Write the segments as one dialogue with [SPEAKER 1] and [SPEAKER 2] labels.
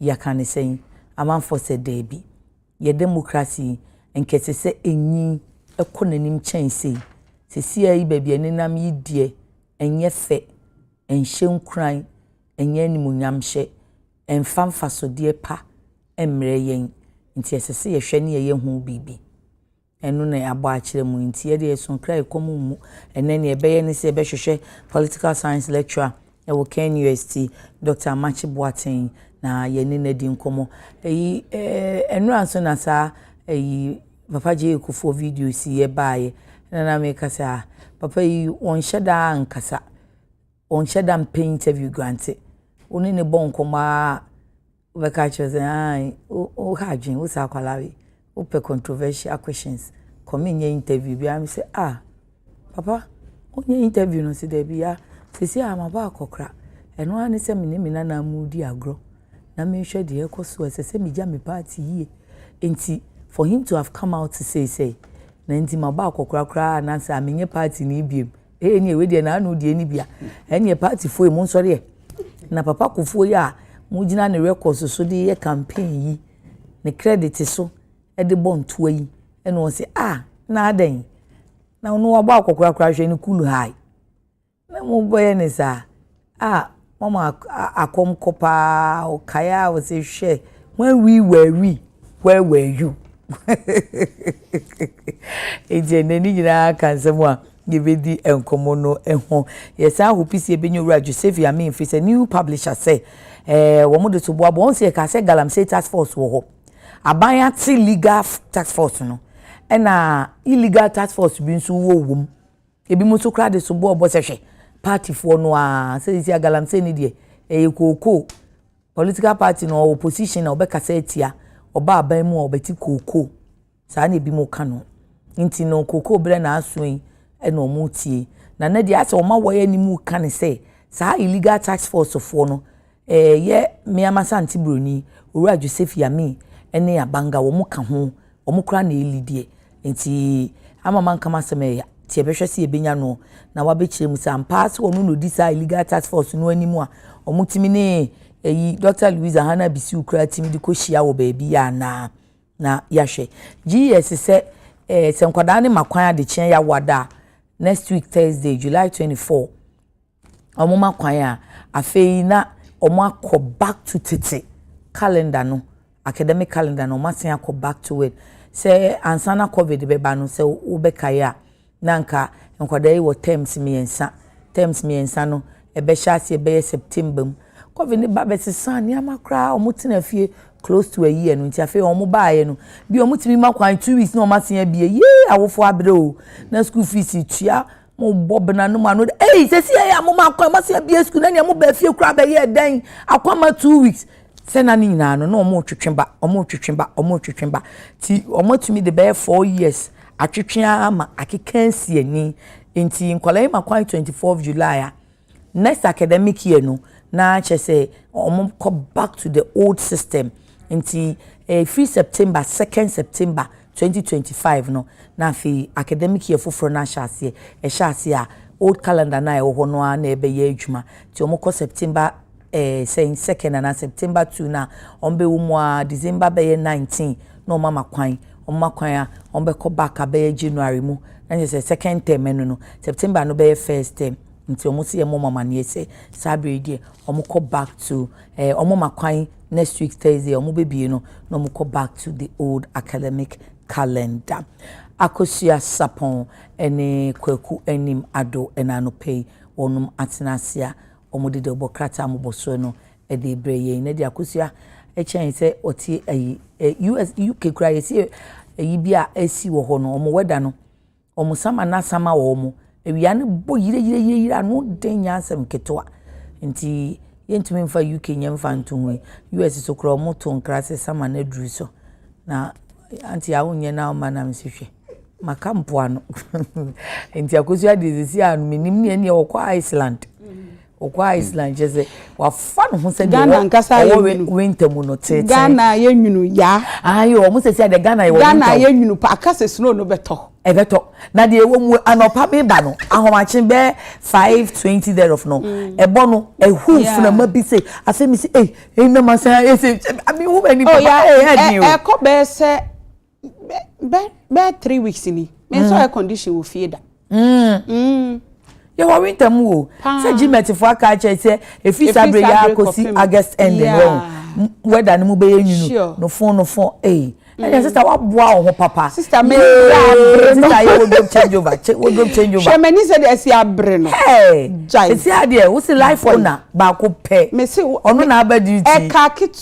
[SPEAKER 1] Yɛka no sɛn? Amanfoɔ sɛ daabi. Yɛ demokrase yi, nka ɛsɛ sɛ ɛnyin, ɛkɔ n'anim kyɛn sei. Seesei yi baabi a ɛnenam yi deɛ, ɛnyɛ fɛ, ɛnhyɛ nkuran, ɛnyɛ animuonyamhyɛ, ɛmfa mfasodeɛ pa mmrɛ yɛn. Nti ɛsɛ sɛ yɛhwɛ na yɛyɛ ho biribi. Ɛno na yɛabɔ akyerɛ mo nti yɛde yɛso kra yɛ kɔm mmu. Ɛnɛ nea ɛbɛyɛ ne sɛ yɛbɛhwehwɛ political science lecturer ɛwɔ KNUST, Dɔkta Amakye Boateng na yɛne no adi nkɔmmɔ. Ɛyi ɛɛ ɛnora nso na saa ɛyi Papa J.A. Kufuor video si yɛ baayɛ na na meka sɛ ah papa yi wɔnhyɛ da nkasa wɔnhyɛ da mpɛ interview grante wo ne ne bɔ nkɔmmɔ a Wobɛka akyerɛ sɛ ae woha adwene wo saa akwadaa wei wopɛ controversial questions kɔ menyɛ interview biara me sɛ ah papa wonyɛ interview no sɛ daabi ya sisi a maba akɔkora ɛno ara ne sɛ me ne me nana mu di agorɔ na mehwɛ deɛ ɛkɔ so ɛsɛ sɛ megya me party yie nti for him to have come out to say say na nti maba akɔkora koraa na sɛ menyɛ party no biem Ee neɛ wei deɛ n'ano deɛ ne bi a ɛneɛ partyfoɔ yi mo nsɔre ɛ na papa kofoɔ yi a mo gyina ne records so de yɛ campaign yi ne credit so de bɔ ntoa yi ɛna wɔn sɛ a ah, na adɛn na ɔno wabɔ akɔkorakora hwɛ ne cool high na mo bɛyɛ ne saa. Ah mama akɔm kɔ paa o kae a ɔse hwɛ when we were we where were you nti ɛnɛ ne nyinaa ka nsɛm a yɛbɛdi nkɔmmɔ no ho yɛsan hopi sɛ yɛbɛnya owura joseph yamin firi sɛ new publisher sɛ eh, wɔn de so boaboa wɔn sɛ yɛka sɛ galamsey task force wɔ hɔ aban ate legal task force no ɛna illegal task force bi nso wɔ wɔm Ebinom nso koraa de sobo ɔbɔ sɛ hwɛ, partyfoɔ no ara, seesei a galamsey no deɛ, ɛyɛ kookoo. Political party no, ɔwɔ opposition a ɔbɛkasa atia, ɔba aban mu a ɔbɛte kookoo. Saa na ebinom ka no. Nti no, kookoo berɛ na aso yi na wɔretie. Na nnɛ deɛ ayɛ sɛ wɔn awɔe anim reka no sɛ, saa illegal task force foɔ no, Yɛ Meamasa nte broni, Owura Joseph Yami ne Abanga wɔn ka ho, wɔn koraa na ɛli deɛ. Nti ama manka m'asɛm ɛ, nti yɛbɛhwɛ sɛ yɛbɛnya no na wabɛkyerɛ mu sɛ ampa ara sɛ ɔno na ɔdi saa Illegal Task Force no anim a wɔtumi ne ɛyi Dɔkta Louisa Hannah Bisiw koraa tumi de kɔ hyia wɔ baabi yɛ anaa na yɛahwɛ. GS sɛ ɛɛ sɛ nkwadaa no ma kwan adekyeɛ yɛawoada a, next week Thursday, July 24, wɔma kwan a, afei na wɔakɔ back to tete calendar no, academic calendar no, wɔasan akɔ back to it. Sɛ ansa na COVID bɛba no, sɛ wobɛkae a, na anka nkwadaa yi wɔ terms mmiɛnsa. Terms mmiɛnsa no, ɛbɛhyɛ aseɛ bɛyɛ September mu. COVID no ba bɛsesaa nneɛma koraa, wɔtena fie close to a year no nti afei wɔn baeɛ no bi wɔtumi ma kwan two weeks na wɔn asen abie yee awofo abrɛ o na school fees tua mo bɔ bena no mu ano de ei sɛsi yɛ a mo ma akwan ma se abie sukuu na nea mo ba fie koraa bɛyɛ ɛdɛn akwan ma two weeks sɛ na ne nyinaa no na wɔn retwetwe ba wɔn retwetwe ba wɔn retwetwe ba ti wɔn atumi de bɛyɛ four years atwetwe ama akeka nsi ani nti nkɔla yi ma kwan twenty fourth july a. Next academic year no na kyerɛ sɛ wɔkɔ back to the old system nti ɛfiri September second September twenty twenty five no na afei academic year foforɔ no ahyɛ aseɛ ɛhyɛ aseɛ a old calendar no a ɛwɔ hɔ no ara na ɛbɛyɛ adwuma nti wɔkɔ September eh, sɛn second anaa September two na wɔbɛwɔ mu a December bɛyɛ nineteen na wɔn ama kwan wɔn ama kwan a wɔbɛkɔ back abɛyɛ January mu na kyerɛ sɛ second term ɛno no September no bɛyɛ first term. nti ɔmo se yɛ mmɔ ɔmo amaneɛ sɛ saa bere yi deɛ ɔmo kɔ back to ɛɛ eh, ɔmo ma kwan next week thursday ɔmo bebie no na ɔmo kɔ back to the old academic calendar akosua sapɔn ɛne kwaku anim ado ɛna anɔpɛ yi wɔnom atena ase a wɔn de deɛ ɔbɔ krataa a wɔbɔ soɔ no ɛde brɛ yɛn na de akosua ɛkyɛn sɛ ɔte ayi ɛ us uk kura yɛsi ayi bi a ɛsi wɔ hɔ no wɔn wɛda no Wɔn saman asama wɔn. Awia no bɔ yireyireyire, ano den nyɛ asɛm ketewa. Nti yɛntumi mfa UK nyɛ mfa nto ho yi. US so koraa wɔto nkra sɛ saman aduru so. Na auntie a wonyɛ na woma nam si hwɛ. Maka mpoano. Nti Akosua deɛ seesei a menim ne ɛneɛ ɔkɔ Iceland. Ɔkɔ Iceland kyerɛ sɛ wafa ne ho sɛ deɛ Ghana ankasa ayɛ ɔwɔ nwunu.
[SPEAKER 2] winter mu no
[SPEAKER 1] tete. Ghana ayɛ nwunu
[SPEAKER 2] ya. Ayi wɔn
[SPEAKER 1] sɛ sɛ deɛ
[SPEAKER 2] Ghana yɛ wɔ
[SPEAKER 1] winter.
[SPEAKER 2] Ghana ayɛ nwunu
[SPEAKER 1] pa aka
[SPEAKER 2] sɛ snow no
[SPEAKER 1] bɛtɔ. Ɛbɛtɔ na deɛ ɛwɔ mu anɔpa mi ba no ahomakye bɛ five twenty thereof no mm. ɛbɔ no ɛhu funama bi sɛ afɛ mi sɛ ɛyi ɛyi na ma sɛ ɛsɛ mi hu bɛ nipa ɛyɛ ɛdi o. Ɛkɔ bɛɛ sɛ.
[SPEAKER 2] bɛɛ three weeks ni me nso air condition wɔ fie da. Mm. Mm.
[SPEAKER 1] yɛwɔ winter mu o sɛ gmɛtfoɔ aka akyerɛ sɛ ɛfiri saa berɛ yɛ akɔsi august end wɔ wɛda no mu bɛyɛ nwunu no fo no fo ei ɛnna sista waboa wo ho papa. sista mi abere no
[SPEAKER 2] sista yɛ
[SPEAKER 1] wardrobe change over wardrobe change over. sɛmɛ ni
[SPEAKER 2] sɛ de ɛsi abere no. ɛɛ jai ɛsi
[SPEAKER 1] adeɛ wosi life owner baako pɛ. mesi ɔno na
[SPEAKER 2] abɛ duty.
[SPEAKER 1] ɛka ketewa.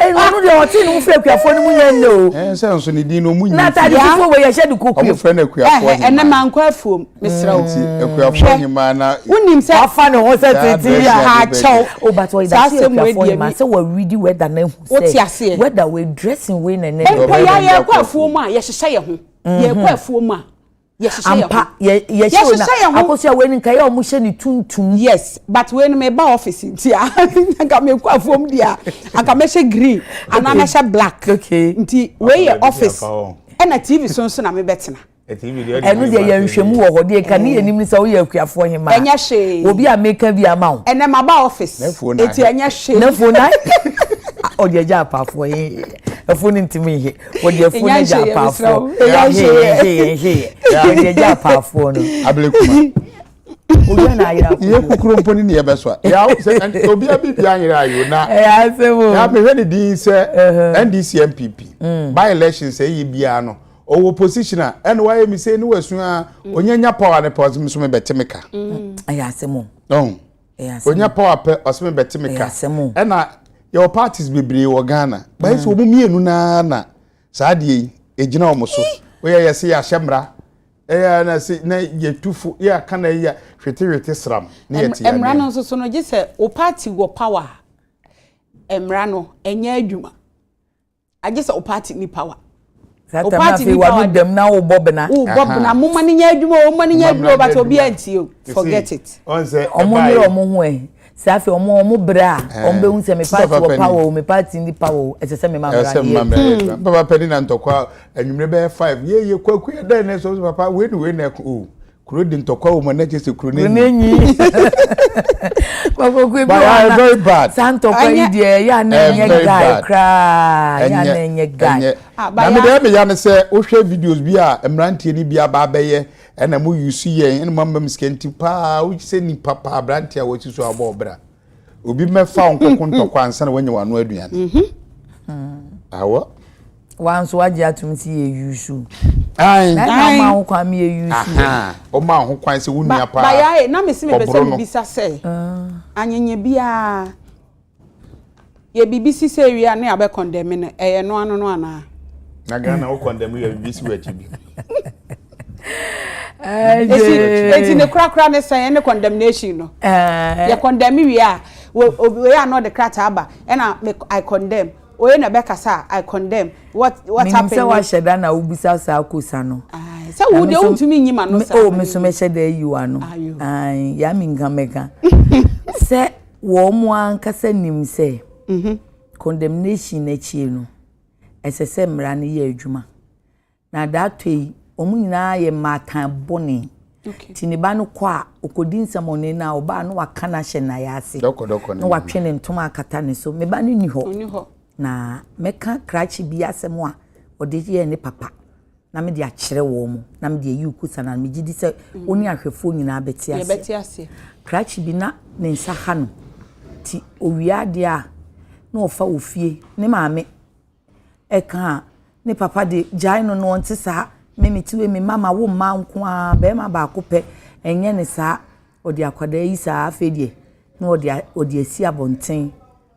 [SPEAKER 3] ɛnu
[SPEAKER 1] deɛ ɔte ne ho firi akuafoɔ no mu nyɛ nnɛ o ɛn sɛ nso ne din no ɔmu
[SPEAKER 3] nyi na atade fufuo wɔ yɛhyɛ
[SPEAKER 1] de kɔkuo ɔmo frɛ no akuafoɔ hemaa
[SPEAKER 3] ɛnɛ ma nkɔ afuom
[SPEAKER 2] mesrɛ wo nti akuafoɔ hemaa
[SPEAKER 3] na wonim sɛ wafa ne
[SPEAKER 2] ho sɛ tete
[SPEAKER 1] bi a akyɛw o
[SPEAKER 2] but ɔyɛ da sɛ
[SPEAKER 1] akuafoɔ hemaa sɛ wɔawidi wɛda no ahu sɛ wote aseɛ wɛda wɔ dressing wei na ɛnɛ mpo yɛayɛ kɔ afuom
[SPEAKER 2] a yɛhyehyɛ yɛ ho yɛkɔ afuom a ampa yɛhyehyɛ
[SPEAKER 1] yɛn ho akosua wei ni nka yɛ ɔmo hyɛ ne tuntum. yes but wei no
[SPEAKER 2] mɛ ba office nti a nka mɛ kɔ afɔm di a nka mɛ hyɛ green anaa mɛ hyɛ black nti wei yɛ office ɛna tv so nso na mɛ bɛ tena. ɛno deɛ
[SPEAKER 1] yɛ nhwɛmu wɔ hɔ deɛ nka ne yɛ nim ne sɛ woyɛ akuafoɔ hema ɛnyɛ hwee obi a
[SPEAKER 2] meka bi ama
[SPEAKER 1] wo ɛnɛ ma ba office
[SPEAKER 2] eti ɛnyɛ hwee na fo na
[SPEAKER 1] ɔde agya apaafoɔ yɛ ɛfo ne ntumi yɛ wɔde afu no gya apaafoɔ wɔde gya apaafoɔ no abirikuma
[SPEAKER 3] obi
[SPEAKER 1] na ayera ko yɛ kukuro mpo ne ne
[SPEAKER 3] yɛbɛ so a yaw sɛ obi abi bi anyera ayo na ɛyɛ asɛm o ya mehwɛ
[SPEAKER 1] ne din
[SPEAKER 3] sɛ uh-huh. ndc npp mm. by election sɛ ɛyɛ biara no ɔwɔ position a ɛna wayɛ mi sɛ ne wasu a mm. onyanya power ne power nso mebɛte me ka mm. ɛyɛ asɛm o onya power pɛ ɔsɛ me bɛte me ka ɛna yɛwɔ parties bebree wɔ ghana bɛyɛ sɛ wɔn mmienu naa na saa adeɛ yi ɛgyina wɔn so woyɛ yɛ sɛ yɛahyɛ mmara ɛyɛ na sɛ na yɛtu fo yɛ aka na yɛ hwetehwete sram na yɛte yɛ mmara no nso so no gye sɛ
[SPEAKER 2] wo party wɔ power mmara no ɛnyɛ adwuma agye sɛ wo party ni power. That time na afei
[SPEAKER 1] wanu dɛm na wo bɔ bena. Wo bɔ bena mo ma ne nya
[SPEAKER 2] adwuma o mo ma ne nya adwuma o but obi antie o forget it. Ɔmo nyere
[SPEAKER 3] ɔmo ho ɛ
[SPEAKER 1] sɛ afei ɔmo ɔmo bere a ɔmo bɛ hu sɛ me party wɔ power o me party ni power o ɛsɛ sɛ me ma mmerɛ adeɛ. Papa
[SPEAKER 3] pɛni na ntɔkwa anwumire bɛyɛ five yeye kwaku yɛ dɛ ne so papa wei ni wei na ɛko o. Kuro de ntɔkwa wɔ mu na kyerɛ sɛ kuro no enyi.
[SPEAKER 1] Kɔkɔkɔ bi wɔ very bad.
[SPEAKER 3] Saa ntɔkwa yi deɛ
[SPEAKER 1] ɛyɛ a na ɛnyɛ guy koraa. Ɛyɛ a na ɛnyɛ guy. Ah, na me deɛ meya
[SPEAKER 3] no sɛ wohwɛ videos bi a mmeranteɛ no bi aba abɛyɛ ɛna mo yusu yɛn ɛna mo ama me sika nti paa wohyɛ nipa paa aberanteɛ a wɔasi so abɔ ɔbra. Obi mmɛfa wo nkɔko ntɔkwa ansa na wanya w'ano aduane. Mm-hmm. Awɔ. Wa
[SPEAKER 1] nso wagye atom si yɛ yusu. Ayi. Na ɛna
[SPEAKER 3] ɔma ho kwan
[SPEAKER 1] mi yɛ yusu. Ɔma ho
[SPEAKER 3] kwan sɛ wo nua paa. Ba yaaye na mesi
[SPEAKER 2] mi
[SPEAKER 3] pɛ sɛ
[SPEAKER 2] mi bisa sɛ. Ah. Anyenye biara. Yɛ biribi si sɛ awia ne abɛ kɔndɛme no ɛyɛ no ano no anaa? Na Ghana wo
[SPEAKER 3] kɔndɛme yɛ biribi si w'akyi bi.
[SPEAKER 2] Esi eti ne korakora ne sɛn ne condemnation no. Yɛ kɔndɛme wie a oye a na ɔde krataa aba ɛna me I condemn oye na ɛbɛ kasa a I condemn what what happened. Menim sɛ wahyɛ da na
[SPEAKER 1] wobisa saa kosa no. Sɛ wo deɛ
[SPEAKER 2] wontumi nyi ma no saa. Oh me so mehyɛ da ayi
[SPEAKER 1] w'ano. Ayo. Yɛ a menka mɛka sɛ. Wɔn ankasa nim sɛ condemnation no akyi no, ɛsɛ sɛ mmara no yɛ adwuma. Na dato yi, wɔn nyinaa yɛ mmaatan bɔne. Nti ne ba no kɔ a, ɔkɔdi nsɛmɔne no a, ɔbaa no waka no ahyɛ nnaeɛ ase. Na watwe ne
[SPEAKER 3] ntoma
[SPEAKER 1] akata ne so. Me ba no nni hɔ. Na mɛka krakye bi asɛm a ɔde yɛɛ ne papa. na mede akyerɛ wɔn, na mede ayi wo kosan ano. Megye di sɛ wo ne ahwɛfoɔ nyinaa bɛte ase. Krakye bi na ne nsa ha no, nti ɔwie adeɛ a, na ɔfa wɔ fie. Ne maame ɛka a, ne papa de gyae no no, ɔnte saa. Me mete wei, me mma mawo mmaa nko ara, barima baako pɛ, ɛnyɛ no saa. Ɔde akwadaa yi saa, afei deɛ na ɔde asi abɔnten.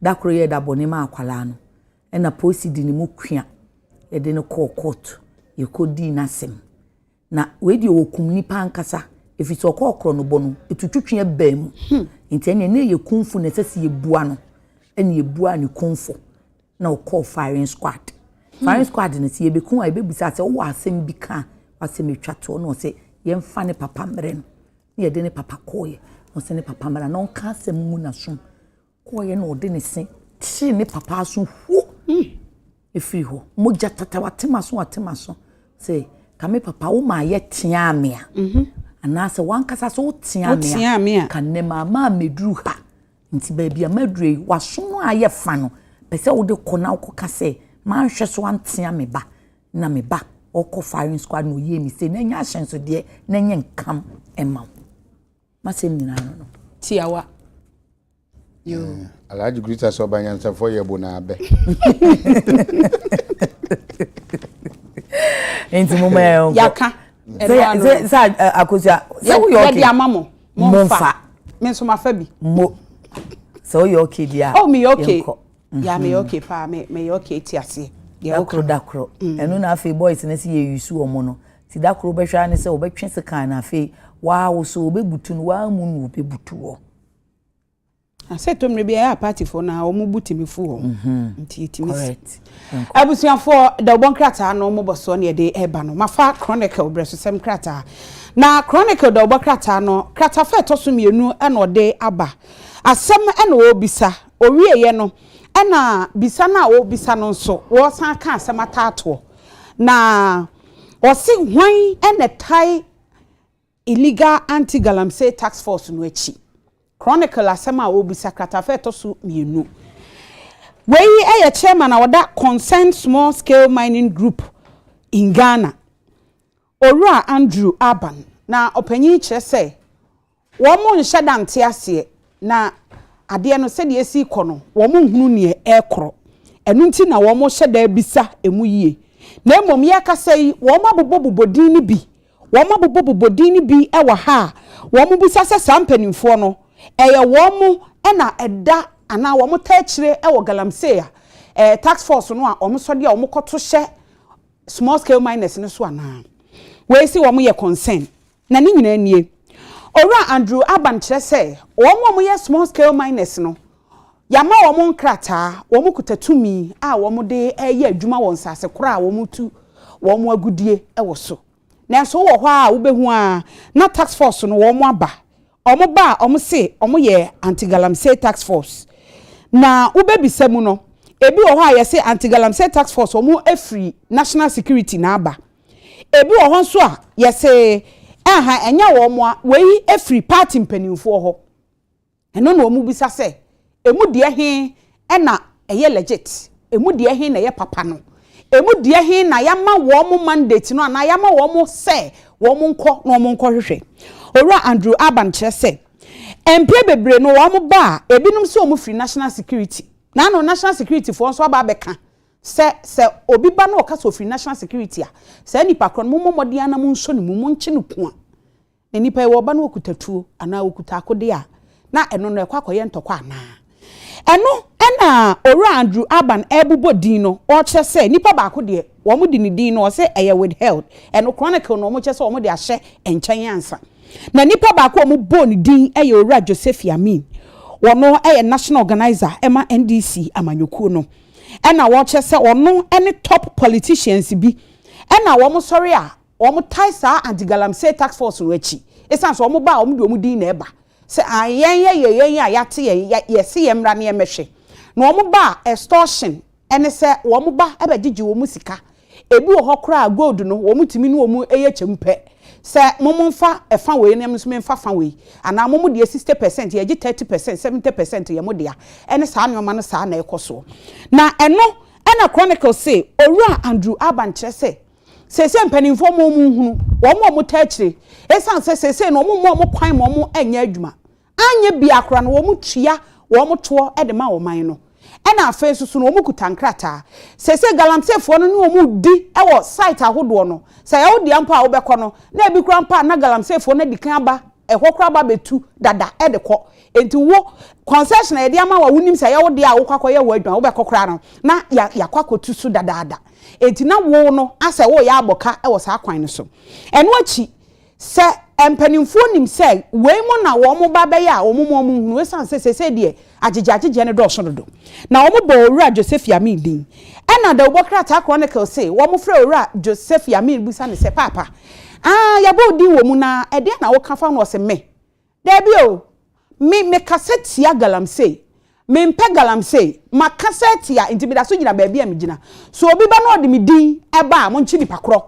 [SPEAKER 1] Da koro yɛ da bɔne maa akwadaa no ɛna polisi de ne mu kua yɛde no kɔɔ kɔɔto yɛkɔdii n'asɛm na wei deɛ wɔkum nnipa ankasa ɛfiri sɛ ɔkɔ ɔkorɔ no bɔ no ɛtutwitwe ɛbaa mu hmm. nti ɛneɛ ne yɛ kumfo na ɛsɛ sɛ yɛbua no ɛne yɛbuaa ne kumfo na ɔkɔɔ firing squad hmm. firing squad no sɛ yɛbɛku a yɛbɛbusa sɛ wowɔ asɛm bi ka a wasɛm ɛtwa toɔ na ɔsɛ yɛmfa ne papa mmerɛ no na yɛde ne papa kɔɔyɛ ɔsɛ ne papa mmara na ɔnka asɛm mu nasom kɔeɛ na ɔde ne se kyeree ne papa aso huo ɛfiri hɔ mogya tata watema so watema so sɛ ka me papa wo maa yɛ teaa me a mhm. anaasɛ wankasa sɛ woteaa me a ka nnɛ maamaa mɛduru ha nti baabi a maduru yi waso no a yɛ fa no pɛ sɛ wode kɔ na wokɔka sɛ manhwɛ so antea me ba na me ba ɔkɔ firing squad na ɔyie me sɛ na ɛnyɛ ahyɛnsodeɛ na ɛnyɛ nkam ɛma wo M'asɛm nyinaa ano no, tiawa.
[SPEAKER 2] Yo. Eh, Alhaji
[SPEAKER 3] Grita sɛ ɔba nyansafoɔ yɛ bo na abɛ.
[SPEAKER 1] Nti mo mɛ ɔnkɔ. Yaka.
[SPEAKER 2] Sɛ sɛ
[SPEAKER 1] akosua sɛ woyɛ ɔkè. Yɛ di ama mo.
[SPEAKER 2] Mo nfa. Me nso ma fa bi. Mo.
[SPEAKER 1] Sɛ woyɛ ɔkè di a. Oh mi yɛ ɔkè.
[SPEAKER 2] Yeah meyɛ okay paa me meyɛ okay ti aseɛ. Dakoro dakoro
[SPEAKER 1] ɛno na afei boys no sɛ yɛ use wɔn no ti dakoro bɛhwɛ ara ne sɛ wɔbɛtwe sekan na afei waawo so wɔbɛbutu no waa mu na wɔbɛbutu wɔ.
[SPEAKER 2] Asɛ to mmerɛ bi ɛyɛ apatifoɔ na wɔn bu tumi fu wɔn mhm. nti yɛtumi si. Abusuafoɔ da wɔbɔ nkrataa no wɔn bɔsoɔ na yɛde ɛba no mafa chronicle brɛsosɛm krataa na chronicle da wɔbɔ krataa no krataa fɛ ɛtɔ so mmienu ɛna ɔde aba asɛm ɛna ɔrebisa Ɔwieeɛ no, ɛna bisa no a ɔrebisa no nso, wɔresan aka asɛm ataatoɔ. Na ɔse hwan na ɛtae Illegal Anti-Galamsey Task Force no akyi? Chronicle asɛm a ɔrebisa, kratafa a ɛtɔ so mmienu. Wei yɛ chairman a ɔda Concerned Small Scale Mining Group in Ghana. Owura Andrew Aban, na ɔpanyin kyerɛ sɛ wɔn nhyɛ da nte aseɛ na adeɛ no sɛdeɛ ɛsi rekɔ no wɔn nhunu neɛ ɛrekorɔ ɛno nti na wɔn hyɛ da bisa ɛmu yie na mmom yɛrekasa yi wɔn abobɔ bobɔ din no bi wɔn abobɔ bobɔ din no bi wɔ ha a wɔn bisa sɛ saa mpaninfoɔ no ɛyɛ wɔn na ɛda anaa wɔn taa akyire wɔ Galamsey a task force no a wɔn sɔdeɛ a wɔn kɔto hyɛ small scale miners no so anaa? Wei se wɔn yɛ concern na ne nyinaa nie. Owura Andrew Aban kyerɛ sɛ wɔn a wɔyɛ small scale miners no yɛama wɔn nkrataa, wɔn kuta tumi a wɔn de reyɛ adwuma wɔ nsase korɔ a wɔn tu wɔn agudie wɔ so. Nanso wowɔ hɔ ara a wobɛhu ara na task force no wɔn aba Ɔmo ba a ɔmo se ɔmo yɛ Anti Galamsey Task Force na wo bɛ bisa mu no ebi wɔ hɔ a yɛse Anti Galamsey Task Force ɔmo afiri National Security na aba ebi wɔ hɔ nso a yɛse ɛnha ɛnyɛ ɔmo a wei afiri party mpaninfoɔ hɔ ɛno na ɔmo bisa sɛ Emu deɛ he na ɛyɛ legit? Emu deɛ he na ɛyɛ papa no? Emu deɛ he na yɛama wɔn mandate no anaa yɛama wɔn sɛ wɔnkɔ na wɔnkɔhwehwɛ? Owura Andrew Alban kyerɛ sɛ, Mpre bebree no wɔba a, ebinom se wɔfiri National Security. Na ano National Securityfoɔ nso aba abɛka sɛ, sɛ obi ba na ɔka sɛ ɔfiri National Security a, saa nipa korɔ no mommɔ mmɔden ara na monsɔ ne mu, monkye no kua. Na nnipa yi, wɔba na wɔkuta tuo anaa wɔkuta akodeɛ a, na ɛno no ɛkɔ akɔyɛ ntɔkwa anaa? Ɛno na Owura Andrew Alban rebobɔ din no, ɔrekyerɛ sɛ nipa baako deɛ wɔde ne din no ɔse ɛyɛ withheld, ɛno chronicle no wɔkyerɛ sɛ wɔde ahyɛ nkyɛn ansa. Na nipa baako a wɔbɔɔ ne din yɛ Owura Josephy Amin, ɔno yɛ National Organiser ma NDC amanyɔkuo no, ɛna ɔrekyerɛ sɛ ɔno ne top politicians bi, ɛna wɔsɔre a Wɔtae saa anti-galamsey task force no akyi esiane sɛ wɔba a wɔde wɔn din na ɛba sɛ ae yɛn yɛ yɛ yɛn a yɛate yɛn yɛse yɛn mmra na yɛn mmɛhwɛ na wɔn ba a extortion ɛne sɛ wɔn ba bɛgyegye wɔn sika ebi wɔ hɔ koraa a gold no wɔn tumi ne wɔn yɛ kyɛm pɛ sɛ mom mfa ɛfa wei na me nso memfa fa wei anaa mom deɛ sixty percent yɛgye thirty percent seventy percent yɛ mo dea ɛne saa nnoɔma no saa na ɛkɔ soɔ na ɛno ɛna chronicle se owura Andrew Alban kyerɛ sɛ Seesei mpanimfoɔ mma wɔn nhunu wɔn a wɔtaa akyire ɛsiane sɛ seesei no wɔmma wɔn kwan ma wɔnyɛ adwuma. Anyɛ biara koraa no wɔtua wɔn toɔ de ma ɔman no ɛna afei nso so no wɔkuta nkrataa. Seesei galamseefoɔ no ne wɔn redi wɔ site ahodoɔ no. Sɛ ɛyɛ wo dea mpo a wobɛkɔ no na ɛbi koraa mpo a na galamseefoɔ no adi kan aba ɛhɔ koraa ba bɛtu dada de kɔ. Enti wo, concession a yɛde ama wo a wonim sɛ ɛyɛ wo dea a wokɔ akɔyɛ hɔ adwuma, wobɛkɔ koraa no, na yɛakɔ akɔtu so dadaada. Enti na wo no asɛ woreyɛ abɔ ka wɔ saa kwan no so. Ɛno akyi, sɛ mpanimfoɔ nim sɛ wei mo na wɔn ba bɛyɛ a, wɔma wɔn hunu. Ɛsiane sɛ seesei deɛ Agyegyeagyegyeɛ no dɔɔso dodo. Na wɔbɔɔ Owura Josephi Amin din. Ɛna Dawubɔ Krataa Chronicle se wɔfrɛɛ Owura Josephi Amin bisa no sɛ, Paapa, aah, yɛabɔ wo din wɔ mu no ara, ɛdeɛn na woka fa ho? Na ɔse, Me? Daabi o! Me, mekasa tia galamsey. Mempɛ galamsey. Makasa atia, enti meda so gyina baabi a megyina. So obi ba na ɔde me din ba a, monkye nipa korɔ.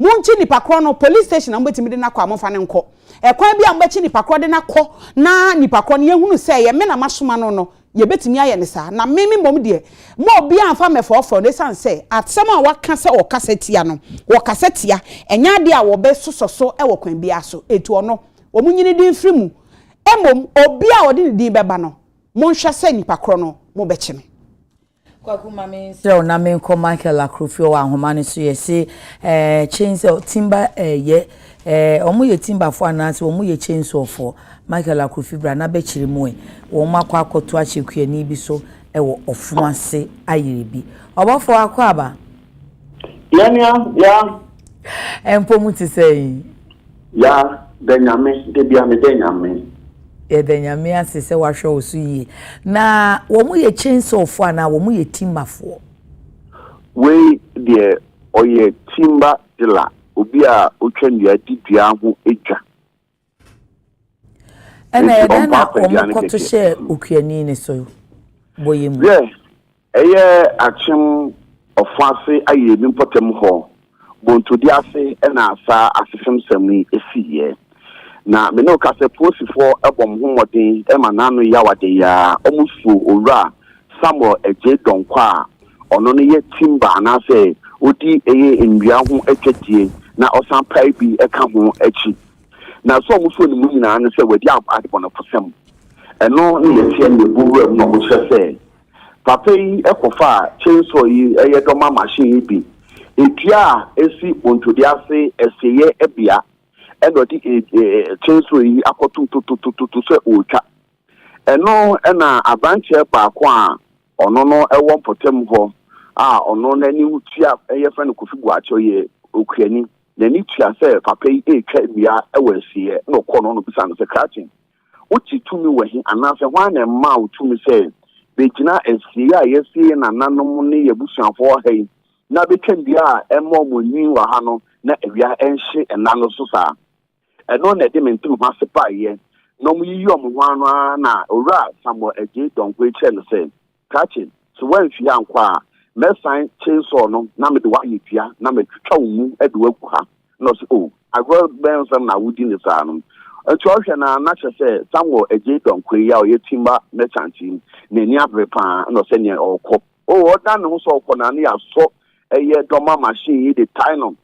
[SPEAKER 2] Monkyi nipa korɔ no, police station na mobɛtumi de no akɔ a momfa no nkɔ. Ɛkwan bi a mobɛkyi nipa korɔ de no akɔ na nipa korɔ no yɛhunu sɛ ɛyɛ me na masoma no no, yɛbɛtumi ayɛ no saa. Na me me mmom deɛ, mma obiara mfa mmɛfɔɔfɔɔ no ɛsiane sɛ asɛm a wɔaka sɛ wɔkasa tia no, wɔkasa tia, ɛnyɛ adeɛ a wɔbɛsosɔ so wɔ kwan biara so. Enti ɔno, wɔnyi ne din mfiri mu. Mmom, obiara a ɔde ne din bɛba no, monhwɛ sɛ nipa korɔ no mobɛkyi no. Kwaku ma
[SPEAKER 1] me nserɛ wo na me nkɔ Michael Akrofio wɔ ahoma no so yɛ se eh, chain sɛ timba eh, yɛ eh, ɔmo yɛ timbafoɔ anaase ɔmo yɛ chainsaw-foɔ Michael Akrofi bra na bɛkyere mu eh, wɔn akɔ akɔto akyɛ kuani bi so ɛwɔ ɔfom ase ayere bi ɔbɔfoɔ akɔ aba. Yɛnua,
[SPEAKER 4] yeah. Ɛmpɔ mu
[SPEAKER 1] te sɛn? Ya
[SPEAKER 4] dɛ Nyame, da bia me dɛ Nyame. Yɛda Nyame
[SPEAKER 1] ase sɛ w'ahwɛ wo so yie. Na wɔn yɛ chainsaw foɔ anaa wɔn yɛ timber foɔ? Wei
[SPEAKER 4] deɛ ɔyɛ timber dealer, obi a ɔtwa nnua di dua ho dwa.
[SPEAKER 1] Ɛna ɛdɛn na wɔn kɔto hyɛɛ okuani no so bɔ yɛ mu? Ɛyɛ
[SPEAKER 4] akyem ɔfã ase aye ne mpɔtam hɔ bontode ase na saa asefemsɛm yi siiɛ. Na me ne wo ka sɛ Polisifoɔ bɔ mo ho mmɔden ma n'ano yɛ awaden ara, wɔsuo Owura Samuel Adjei Donkor a ɔno no yɛ timber anaasɛ ɔdi ɛyɛ nnua ho dwadie na ɔsan pae bi ka ho akyi. Na sɛ wɔsuo no mu nyinaa ne sɛ wadi adebɔnefosɛm. Ɛno ne deɛ ɛteɛ nnɛ bɔ wuram na wɔkyerɛ sɛ Papa yi kɔfaa chainsaw yi yɛ dɔma machine yi bi dua a esi bontode ase asieyɛ bea na ɔde chainsaw yi akɔtom tototototo sɛ ɔretwa. Ɛno na aberanteɛ baako a ɔno no wɔ mpɔtam hɔ a ɔno n'ani tua yɛfrɛ no Kofi Boakye ɔyɛ okuani n'ani tua sɛ papa yi retwa nnua wɔ asieyɛ na ɔkɔɔ no na ɔbisaa no sɛ Kraten Wogye tumi wɔ he, anaasɛ hwan na ɛmaa wo tumi sɛ begyina asiei a yɛasie yɛn nananom ne yɛn abusuafoɔ ha yi na betwam dua a ɛma wɔn nyin wɔ ha no na awia nhye nna no so saa? Ɛno na ɛde me ntem ho ase baeɛ na wɔyiyi wɔn ho ano ara na Owura Samuel Adjei Donkor kyerɛɛ no sɛ, Krakye, sɛ woamfie ankɔ a, mɛsan chainsaw no na mede wo ayɛ dua na matwitwa wo mu de wo agu ha. Na ɔse, Oh, agorɔ bɛn nsɛm na wodi no saa no? Nti ɔhwɛ no ara na kyerɛ sɛ Samuel agyei Donkor yi a ɔyɛ timber merchant yi, n'ani abere pa ara na ɔsɛ nea ɔrekɔ. Oh, ɔdan ne ho sɛ ɔrekɔ no ara na yɛasɔ ɛyɛ dɔma machine yi de tae no.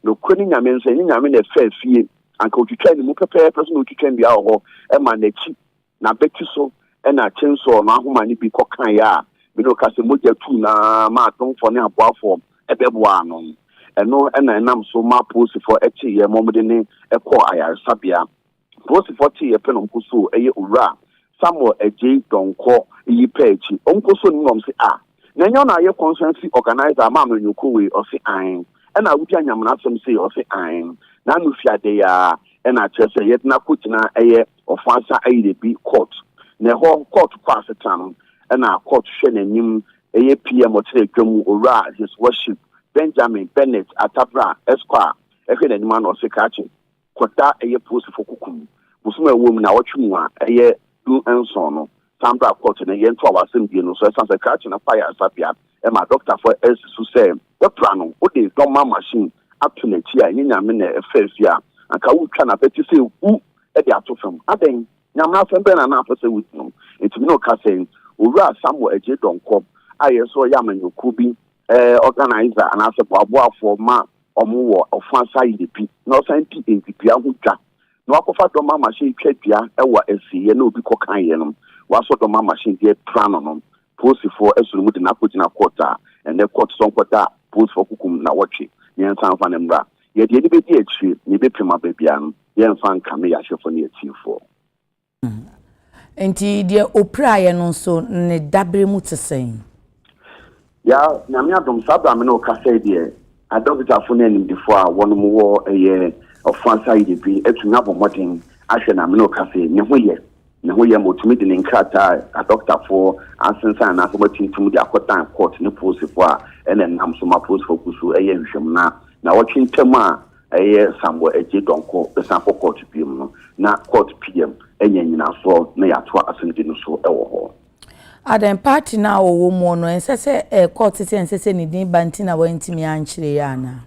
[SPEAKER 4] Nokorɛ ne Nyame nsɛ, ɛnyɛ Nyame na ɛfɛɛ fie, anka ɔtwitwaa ne mu pɛpɛɛpɛ so na ɔtwitwa nnua wɔ hɔ maa n'akyi N'abati so na kyensɔɔ no ahoma no bi kɔkaeɛ a me ne wo ka sɛ mogya tuu no ara ma adomfoɔ ne aboafoɔ bɛboaa no. Ɛno na ɛnam so maa polisifoɔ teeɛ ma wɔde no kɔɔ ayaresabea. Polisifoɔ teeɛ pɛ na wɔkɔsoo ɛyɛ Owura Samuel Adjei Donkor yi pɛ akyi. Wɔkɔsoo no mu na wɔse, Ah! Na nnyɛ ɔna ayɛ conference organiser ama amanyɔkuo wei? Ɔse ae. Ɛna awodi anyamena asɛm sei? Ɔse ae. Na ano fi adɛ yi ara ɛna akyerɛ sɛ yɛde no akɔgyina ɛyɛ Ɔfɔansa Ayirabi court. Na ɛhɔ court kɔ asetena no ɛna court hwɛ n'anim ɛyɛ PM ɔkyerɛ dwa mu Owura His Worship Benjamin Bennett Attabrah Esquire ɛhwɛ n'anim a na ɔse krakye. Kwata a ɛyɛ polisifo kokum bosom a ɛwɔ mu naawɔtwe mu a ɛyɛ du nson no san baa kɔɔto nnɛ. Yɛntoa w'asɛmdie no so. Ɛsiane sɛ krakye no kɔ ayaresabea ma dɔktafo asi so sɛ wɔapira no, wode dɔmma machine ato n'akyi a ɛnyɛ Nyame na ɛfa afie a anka woretwa no abɛte sɛ hu de ato fam. Adɛn? Nyame asɛm bɛn na na apɛ sɛ wodi no? Enti me ne wo ka sɛ Owura Samuel Adjei Donkor a ɛyɛ sɛ ɔyɛ amanyɔkuo bi organiser anaasɛ boaboafoɔ ma wɔwɔ ɔfã saayɛ bi na ɔsan di ndzibea ho dwa na ɔakɔfa dɔm amahyen twa dua wɔ esieyɛ na obi kɔkaeɛ nom, wɔasɔ dɔm amahyen dze epira no nom, poosifoɔ soro mu dze no akogyina kɔɔt a ndɛ kɔɔt sɔnkɔ da poosifoɔ kokom naawɔtwe miɛnsa mfa no mbra. Yɛdze yɛnyi bedi ekyir na yɛbɛpema beebi a no yɛmfa nka me yɛahyɛfoɔ ne etsiifoɔ. Enti
[SPEAKER 1] deɛ ɔpiraeɛ no nso, ne daberɛ mu te sɛn? Ya,
[SPEAKER 4] Nyame adom, saa berɛ a me ne wo kasa yi deɛ, adɔkotafoɔ ne animdefoɔ a wɔnom wɔ ɛyɛ ɔfã asa yi deɛ bi atumi abɔ mmɔden ahwɛ no a me ne wo kasa yi, ne ho yɛ. Ne ho yɛ ma wɔtumi de ne nkrataa adɔkotafoɔ asensan anaasɛ wɔatintim de akɔdan kɔɔto ne polisifoɔ a ɛna ɛnam so ma polisifoɔ gu so yɛ nhwehwɛmu na nnawɔtwe ntam a ɛyɛ Samuel Adjei Donkor bɛsan kɔ kɔɔto biom no, na kɔɔto PM anya nyinasoɔ na yɛatoa asɛmdi no so wɔ hɔ. Adɛn,
[SPEAKER 1] party no a ɔwɔ muɔ no ɛnsɛ sɛ ɛyɛ kɔɔto sɛ ɛnsɛ sɛ ne din ba nti na wantumi ankyerɛ yi anaa?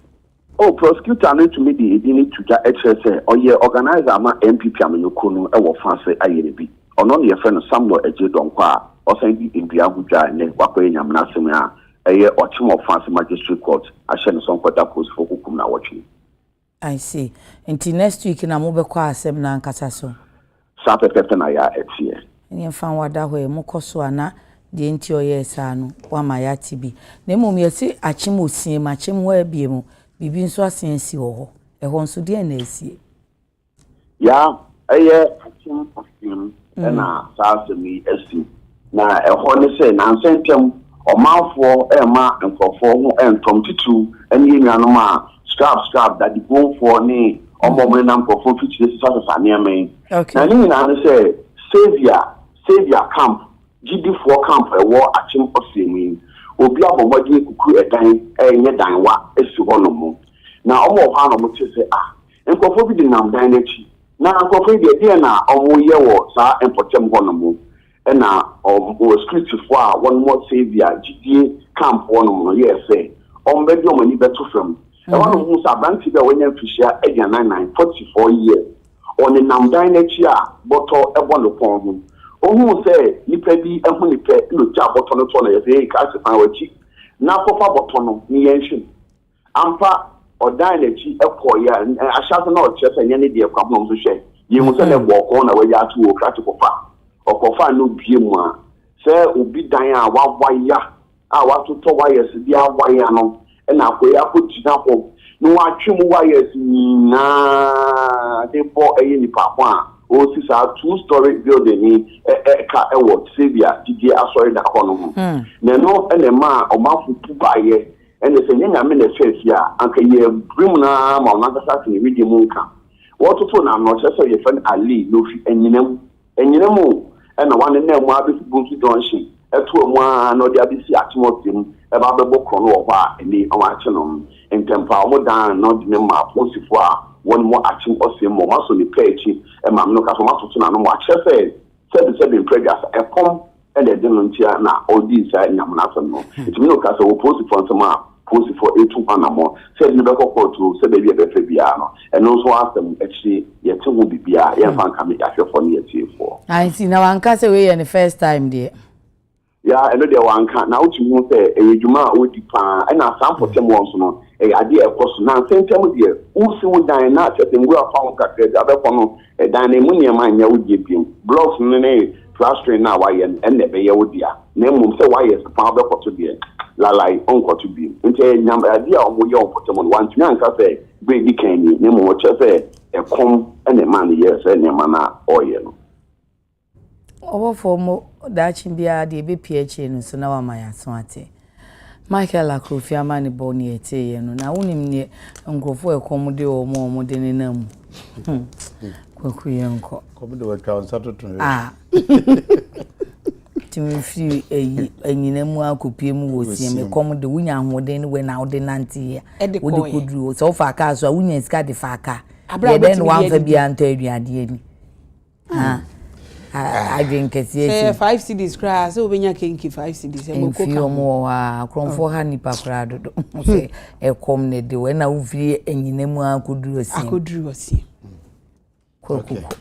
[SPEAKER 1] Oh, prosecutor
[SPEAKER 4] no tumi de edin no to dwa kyerɛ sɛ ɔyɛ organiser ma NPP amanyɔkuo no wɔ fa ase ayɛ no bi. Ɔno na yɛfrɛ no Samuel Adjei Donkor a ɔsan di ndua ho dwa a nnɛ wakɔyɛ Nyamena Asem a Ɛyɛ ɔkyem ɔfa ase magistrate court ahyɛ no sɛ ɔnkɔ da polisifo kokum no awɔtwe. I
[SPEAKER 1] see. Nti next week na mobɛkɔ asɛm no ankasa so? Saa pɛpɛɛpɛ
[SPEAKER 4] na ya ɛteɛ. Ɛneɛ mfa nwa da
[SPEAKER 1] hɔ ɛ, mokɔ so a na deɛ nti ɔyɛɛ saa no wama yɛate bi. Na mmom yɛse akyem ɔsiam, akyem hɔ ara biem, biribi nso asen asi wɔ hɔ. Ɛhɔ nso deɛn na asie? Ya,
[SPEAKER 4] ɛyɛ akyem aseam na saa asɛm yi asi. Na ɛhɔ ne sɛ, nnansa ntam, ɔmanfoɔ remma nkurɔfoɔ ho ntɔm, titiriw ne yɛn nuanom a skrab skrab, dadibonfoɔ ne wɔn a wɔnenam nkurɔfoɔ mfikyire sesasesa nneɛma yi. Na ne nyinaa ne sɛ, Saviour, Saviour camp, gyidifoɔ camp a ɛwɔ akyem ɔseam yi, obi abɔ mmɔden akuku ɛdan, ɛnyɛ dan wa, asi hɔnom. Na wɔwɔ hɔ ara na wɔte sɛ, ah, Nkurɔfoɔ bi denam dan no akyi. Na nkurɔfoɔ yi deɛ, deɛn na wɔreyɛ wɔ saa mpɔtam hɔnom? Ɛnna wɔn, Scriptfoɔ a wɔwɔ Serbia gyidie camp hɔnom no yɛɛ sɛ wɔbɛde wɔn ani bɛto fam. Ɛhɔ na wɔhuu sɛ aberanteɛ bi a wanya mfirihyia aduanan nnan, forty four years, ɔnenam dan no akyi a bɔtɔ bɔ ne kɔn ho. Ɔhuu sɛ nnipa bi ahu no pɛ na ɔgyaa bɔtɔ no toɔ na ɔyɛɛ sɛ, Hei, Christ, san w'akyi na kɔfa bɔtɔ no, ne yɛn nhwɛ mu. Ampa, ɔdan n'akyi kɔeɛ a, ɛ, ahyɛase na ɔkyerɛ sɛ ɛnyɛ ne deɛ kwa ho, nso hwɛ, yɛhu sɛ na ɛbɔɔ kɔn na wagya ato hɔ, ɔkura tepofa. Ɔkɔfaa na obuee mu a, sɛ obi dan a wawaya a watotɔ wires bi awaya no na akɔeɛ akɔgyina hɔ na watwe mu wires nyinaa de rebɔ ɛyɛ nipa ho a, ɔresi saa two story building yi ɛ, ɛ, ka wɔ Serbia gyidie asɔredan hɔ no ho. Na ɛno na ɛmaa ɔmanfo bu baeɛ. Ɛnde sɛ ɛnyɛ Nyame na ɛfaa fie a, anka yɛɛ bere mu no ara ma ɔno ankasa ate ne wedeɛ mu nka. Wɔtoto no ano, ɔkyerɛ sɛ yɛfrɛ no Alii na ɔfiri Anyinam. Anyinam o! Ɛnna wɔanenam mu ara bɛsi Bonsu Junction, ɛtoa mu ara na ɔde abɛsi Akyem Ɔsɛe mu, ɛba abɛbɔ korɔno wɔ hɔ a ɛnnɛ yi wɔakyɛ no no. Ntɛmpa ara wɔdan no de no maa apolisifoɔ a wɔwɔ Akyem Ɔsɛe mu, wɔasɔ ne pɛ akyi, maame no ka sɛ wɔatoto n'ano mu akyerɛ sɛ sɛbesɛbe mprɛ aduasa, ɛkɔm. ɛna ɛde no nkyia na ɔredii saa Nyame n'asɛm no. Ɛtumi no ka sɛ wɔ polisifoɔ nsɛm a polisifoɔ retu ho anamɔ sɛ ɛde no bɛkɔ kɔɔto sɛ baabi a ɛbɛfɛ biara no, ɛno nso asɛm akyire yɛte ho biribiara, yɛmfa nka me ahwɛfoɔ ne atiefoɔ. Ah nti na wanka
[SPEAKER 1] sɛ wei yɛ ne first time deɛ? Yeah, ɛno
[SPEAKER 4] deɛ wanka, na wotumi hu sɛ ɛyɛ dwuma a ɔdi paa, ɛna saa mpɔtam hɔ nso no ɛyɛ adeɛ a ɛkɔ so, nansa ntam deɛ wosi wo dan na kyerɛ sɛ nwura fa ho kakra bi a wobɛkɔ no Dan emu nneɛma nyɛ wo dea bio. Blocks no ne plastering no a woayɛ no, ɛnna ɛbɛyɛ wo dea, na mmom sɛ woayɛ sepa a wobɛkɔto deɛ, lalai, wonkɔto bio. Enti ɛyɛ nyam adeɛ a wɔyɛ wɔ mpɔtam hɔ no, wantumi anka sɛ berɛ a ɛdi kan nie, na mmom ɔkyerɛ sɛ ɛkɔm na ɛmaa no yɛɛ saa nneɛma no a ɔreyɛ no.
[SPEAKER 1] Ɔbɔfoɔ mmɔ daakye biara deɛ ɛbɛpue akyire no so na wama yɛaso ate. Michael Akrofi amanebɔ ne yɛteeɛ no, na wonim neɛ nkurɔfoɔ a ɛkɔm de wɔn a wɔde nenam mu. Hmm. Kwaku yɛ nkɔ. Kɔm de wɔatwa nsa
[SPEAKER 3] toto yɛ. Ah.
[SPEAKER 1] Tumi firi ayi anyina mu akɔpie mu wɔ sie me kɔm de wonya ahoɔden no wɛ na wode nanteɛ. Wode kɔduru sɛ wofa kaa so a wonya sika de fa kaa. Yɛdɛn na wamfa biara ntɔ aduadeɛ ni. adwene kɛseɛ sɛ five cities koraa
[SPEAKER 2] sɛ wobɛnya kenke five cities ɛmɔkɔka wɔn wɔ hɔ a
[SPEAKER 1] korɔmfoɔ ha nnipa koraa dodo sɛ ɛkɔm na ɛde wɔ ɛna wofiri anyina mu akɔduru asie akɔduru asie
[SPEAKER 3] kɔkoko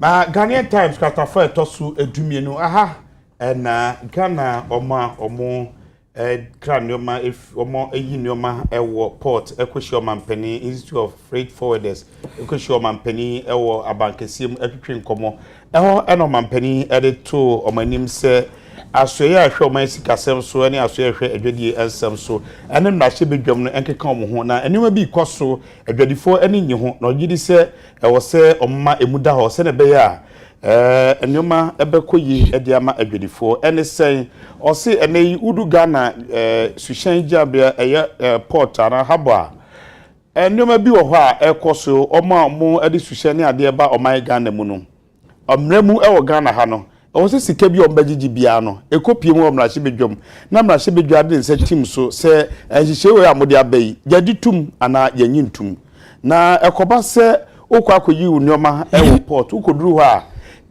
[SPEAKER 3] na Ghanaian Times kratafoɔ ɛtɔ so adumienu aha ɛna Ghana ɔma ɔmo kra nneɛma fi wɔyi nneɛma wɔ port kɔhyia ɔmanpanin institute of freight forwarders kɔhyia ɔmanpanin wɔ abankɛseɛ mu twetwe nkɔmmɔ ɛhɔ ɛna ɔmanpanin de too wɔn anim sɛ asoɛyɛ a ɛhwɛ wɔn sikasɛm so ne asoɛyɛ a ɛhwɛ adwadie nsɛm so ɛne mmarahyɛ badwam no nkeka wɔn ho na nneɛma bi kɔ so adwadifoɔ ani nye ho na ɔgye di sɛ ɛwɔ sɛ wɔma emu da hɔ sɛnea ɛbɛyɛ a Ɛɛ nnoɔma bɛkɔ yie de ama adwadifoɔ ne sɛn? Ɔse ɛnɛ yi wodu Ghana ɛɛ suhyɛn gyinabea ɛyɛ ɛɛ port anaa harbour a, ɛɛ nnoɔma bi wɔ hɔ a ɛkɔ so, wɔn a wɔn de suhyɛn ne adeɛ ba ɔman Ghana mu no, mmerɛ mu wɔ Ghana ha no, ɛwɔ sɛ sika bi a wɔn bɛgyegye biara no, ɛkɔ pie mu wɔ mmarahyɛbadwam, na mmarahyɛbadwa de ne nsa tim so sɛ nhyehyɛe wei a mode aba yi, yɛgye tom anaa yɛnnye ntom. Na ɛkɔba sɛ wokɔ akɔyi wo nneɛma wɔ port, wokɔduru hɔ a,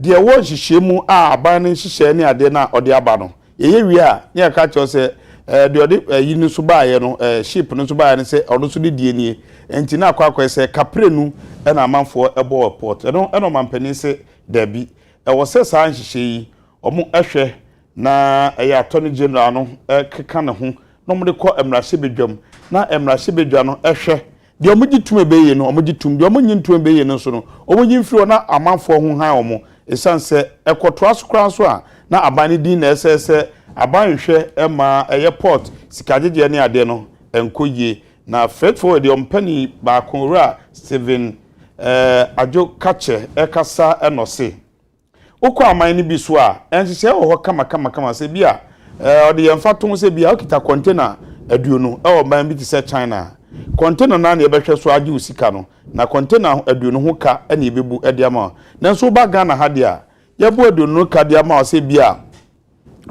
[SPEAKER 3] deɛ ɛwɔ nhyehyɛɛ mu a aban no nhyehyɛɛ ne adeɛ no a ɔde aba no, yɛyɛ wie a, ne yɛka kyerɛ wo sɛ, ɛɛ, deɛ ɔde ayi no nso baeɛ no, ɛɛ, ship no nso baeɛ no sɛ ɔno nso ne deɛ nie. Ɛnti na akɔ akɔyɛ sɛ kaprenu na amanfoɔ bɔ wɔ port. Ɛno na ɔmanpanin se, Dabi, ɛwɔ sɛ saa nhyehyɛɛ yi, wɔn hwɛ Na ɛyɛ Attorney General no keka ne ho na wɔn de kɔ mmarahyɛbadwam na mmarahyɛbadwa no hwɛ. Deɛ wɔn gye tum ɛbɛ yie no wɔn gye tum, deɛ wɔn nye ntum ɛbɛ yie no nso no wɔn yi mfiri hɔ na amanfoɔ ho han wɔn. Ɛsiane sɛ ɛkɔtoa so koraa nso a na aban no din na ɛsɛɛ sɛ aban nhwɛ mma ɛyɛ port sikagyegyeɛ ne adeɛ no nkɔ yie. Na Freight Forward deɛ wɔn panin baako Owura Stephen Adjo Kakyɛ ɛkasa na ɔse. Wokɔ aman no bi so a, nhyehyɛe wɔ hɔ kamakamakama sɛ ebia wɔde yɛ mfatoho sɛ ebia wokita kɔntena aduonu wɔ ɔman bi te sɛ China a, kɔntena no ara na yɛbɛhwɛ so agye wo sika no, na kɔntena aduonu ho ka na yebebu de ama wo. Nanso woba Ghana ha deɛ a, yɛbɔ aduonu no ka de ama wo sɛ ebia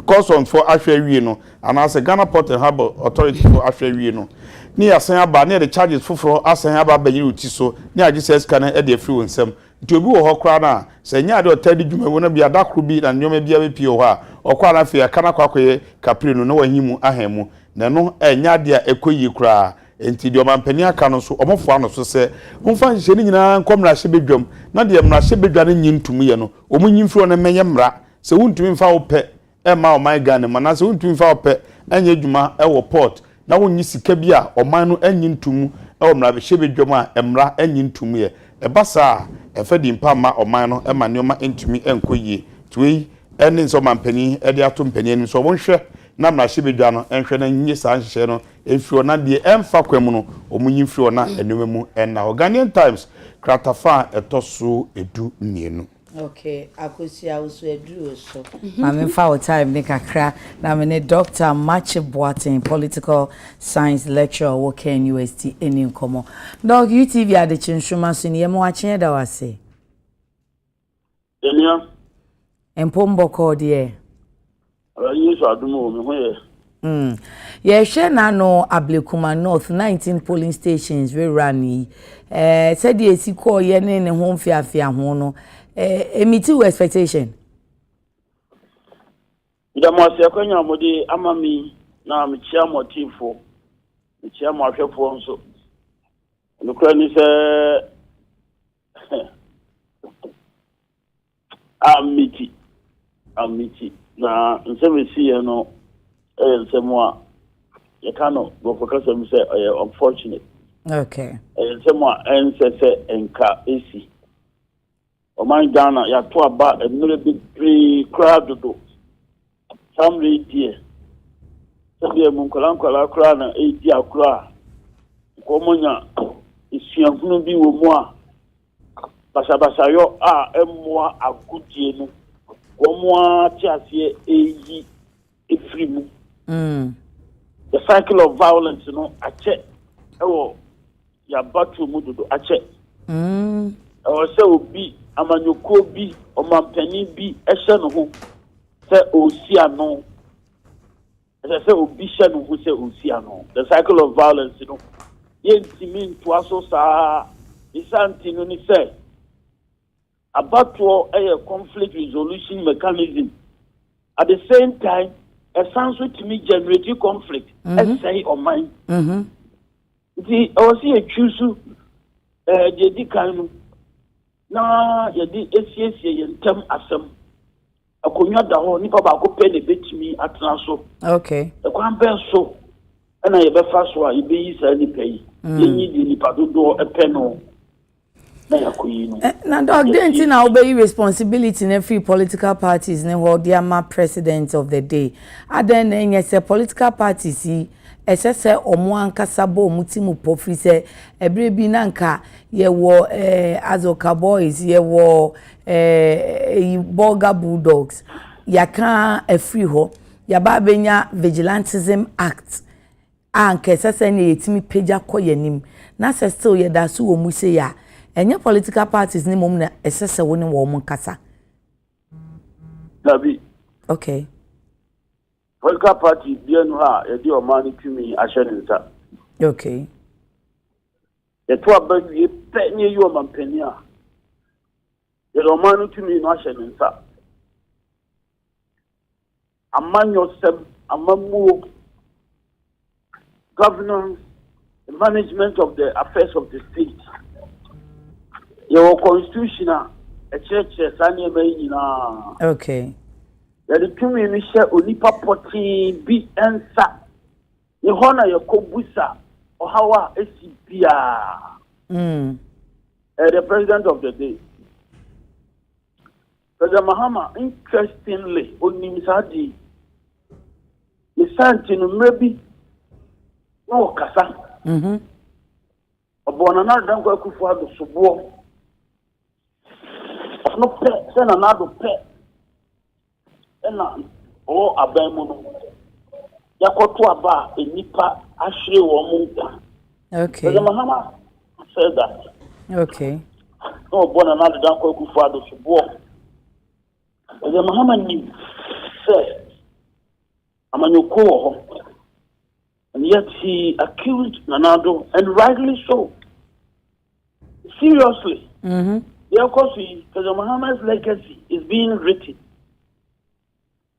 [SPEAKER 3] Customs foɔ ahwɛ awie no, anaasɛ Ghana Port and Harbour Authority foɔ ahwɛ awie no, ne yɛasan aba na yɛde charges foforɔ asan aba abɛyere wo ti so na yɛagye saa sika no de afiri wo nsam. Nti obi wɔ hɔ koraa no a, sɛ ɛnyɛ adeɛ a ɔtaa di dwuma wɔ no bia, da koro bi na ne nneɛma biara bɛpue wɔ hɔ a, ɔkɔ a na afei aka no akɔ akɔyɛ kapire no na wahi mu ahan mu. Na ɛno ɛnyɛ adeɛ a ɛkɔ yie koraa. Nti deɛ ɔmampanin aka no nso, wɔfoa no so sɛ, momfa nhyehyɛe no nyinaa nkɔ mmarahyɛbadwam na deɛ mmarahyɛbadwa no nnye ntom yɛ no, wɔnyi mfiri hɔ na ɛmmɛyɛ mmara Sɛ wontumi mfa wo pɛ mma ɔman Ghana mu anaasɛ wontumi mfa wo pɛ nyɛ adwuma wɔ port na wonnye sika bi a ɔman no nnye nto mu wɔ mmarahyɛbadwam a mmara nnye nto mu ɛ, ɛba saa a, ɛmfa din pa mma ɔman no ma nneɛma ntumi nkɔ yie. Nti wei ne nsɛ ɔmanpanin de ato mpanin anim sɛ wɔnhwɛ na mmarahyɛbadwa no nhwɛ na nnye saa nhyehyɛe no mfiri hɔ na deɛ ɛmfa kwan mu no wɔnyi mfiri hɔ na nneɛma mu nna hɔ. Ghanaian Times kratafa a ɛtɔ so du mmienu. Ok
[SPEAKER 1] akosua wo so aduru so. Mame mfa wo time ne kakra na me ne Dɔkta Makye Boateng Political Science Lecturer ɔwɔ Ken UST ɛni nkɔmɔ. Dɔk, UTV adekye nsoroma so ni, yɛ me wakye yɛda wo ase. Yɛmia.
[SPEAKER 5] Mpom
[SPEAKER 1] bɔkɔɔ deɛ. Awurade
[SPEAKER 5] Yesu adum o, me ho yɛ.
[SPEAKER 1] Mm. Yɛhwɛ n'ano Ablekuma North 19 polling stations rerun yi. Eh, sɛdeɛ esi kɔɔyɛ ne ne ho mfeafea ho no, eh, emiti wo expectation?
[SPEAKER 5] Meda mo ase akwanya mo de ama me na mekyia mo atiefo. Mekyia mo ahwɛfoɔ nso. Nokora ni sɛ Amiti, Amiti, na nsɛm a ɛsi yɛ no yɛ nsɛm a yɛka no Borɔfo kasa mu sɛ ɔyɛ unfortunate. Okay.
[SPEAKER 1] Ɛyɛ nsɛm a
[SPEAKER 5] ɛnsɛ sɛ nka ɛsi. Ɔman Ghana yɛato aba mmerɛ bebree koraa dodo Saa mmerɛ yi deɛ, sɛdeɛ mo nkwadaa nkwadaa koraa na ɛredi agorɔ a, wɔnya suahunu bi wɔ mu a basabasayɔ a ɛmmoa agodie no, wɔn ara te aseɛ ɛreyi ɛfiri mu. Mm. The cycle of violence no akyɛ ɛwɔ yɛabatow mu dodo akyɛ. Ɛwɔ sɛ obi, amanyɔkuo bi, ɔmampanin bi hyɛ ne ho sɛ ɔresi ano. Ɛsɛ sɛ obi hyɛ ne ho sɛ ɔresi ano. The cycle of violence no, yɛntumi ntoa so saa. Ne saa nti no ne sɛ, Abatoɔ yɛ conflict resolution mechanism, at the same time ɛsan nso tumi generate conflict mhm. ɛsɛe ɔman mhm. nti ɛwɔ sɛ yɛtwi so eh, deɛ di kan no na yɛde asiesie yɛn ntam asɛm Akonnwa da hɔ, nipa baako pɛ na ebetumi atena so. Okay. Ɛkwan
[SPEAKER 1] bɛn so
[SPEAKER 5] ɛna yɛbɛfa so a yɛbɛyi saa nipa yi? Mm. Yɛnyi deɛ nipa dodoɔ ɛpɛ no na yɛakɔyi no. Eh, na dɔk deɛ nti na
[SPEAKER 1] wobɛyi responsibility na free political parties ne hɔ de ama president of the day. Adɛn na ɛnyɛ sɛ political parties yi Ɛsɛ sɛ wɔn ankasa bɔ wɔn ti mu pɔ firi sɛ ɛberɛ bi na nka yɛwɔ eh, Azoka Boys, yɛwɔ eh, Bolga Bulldogs, yɛaka afiri hɔ, yɛaba abɛnya Vigilantism Act a nka ɛsɛ sɛ ne yɛtumi pagya kɔ yɛn anim na sɛ still yɛda so wɔ mu sei a ɛnyɛ political parties ne mmom na ɛsɛ sɛ wo ne wɔn nkasa. Dabi.
[SPEAKER 5] Okay. Political party biara nu hɔ a yɛde ɔman no tumi ahyɛ ne nsa. Okay. Yɛto aba wie pɛ ne yɛyi ɔmanpanin a yɛde ɔman no tumi no ahyɛ ne nsa. Amanyɔsɛm, amammuo. governance, the management of the affairs of the state. Yɛwɔ constitution a ɛkyerɛkyerɛ saa nneɛma yi nyinaa. Okay.
[SPEAKER 1] Yɛde
[SPEAKER 5] tumi no hyɛ onipa pɔtee bi nsa. Ne hɔ na yɛkɔ busa ɔhaw a esi biara. Mm. Uh, the president of the day. Brother Mahama, interestingly, onim saa ade yi. Ne saa nti no, mmerɛ bi na ɔkasa. Mhm. Ɔbɔɔ Nana Addo Dankwa Akufo Addo soboɔ. Ɔno pɛ sɛ Nana Addo pɛ ɛna ɔwɔ aban mu no. Yɛakɔto aba a nnipa ahwere wɔn nkwa. Okay. Brother
[SPEAKER 1] Mahama,
[SPEAKER 5] sɛ da. Okay.
[SPEAKER 1] Na ɔbɔ
[SPEAKER 5] na n'adeda nkɔ akufo ado so boɔ. Ɛdɛ Mahama nim sɛ amanyɔkuo wɔ hɔ. And yet he accused Nanado and rightly so. Seriously. Mm-hmm. Yɛkɔ so yi, President Mahama's legacy is being written.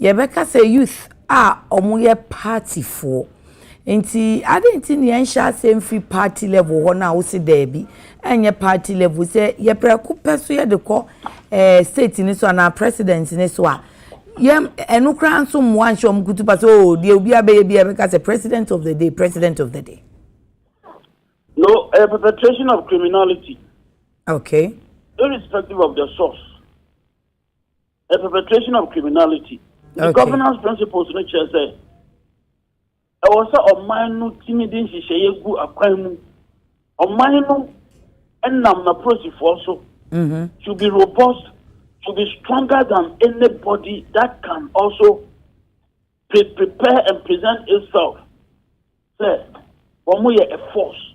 [SPEAKER 1] Yɛbɛka sɛ youth a wɔyɛ party foɔ. Nti adeɛ nti na yɛn hyɛ aseɛ mfiri party level hɔ no a wose daabi ɛnyɛ party level sɛ yɛ prɛko pɛ so yɛde kɔ ɛɛ eh, state ne so anaa president ne so a yɛm ɛno koraa nso mmoa nhyɛ wɔn kutupa sɛ oo oh, deɛ obi abɛyɛ bi ɛbɛka sɛ president of the day president of the day.
[SPEAKER 5] no a eh, perpetration of criminality. okay.
[SPEAKER 1] irrespective
[SPEAKER 5] of the source. a perpetration of criminality the governance principles
[SPEAKER 1] no
[SPEAKER 5] kyerɛ sɛ ɛwɔ sɛ ɔman no tumi de nhyehyɛeɛ gu akwan mu ɔman no nam n'apolisifoɔ so mm-hmm. to be robust to be stronger than anybody that can also pre prepare and present itself sɛ wɔn yɛ a force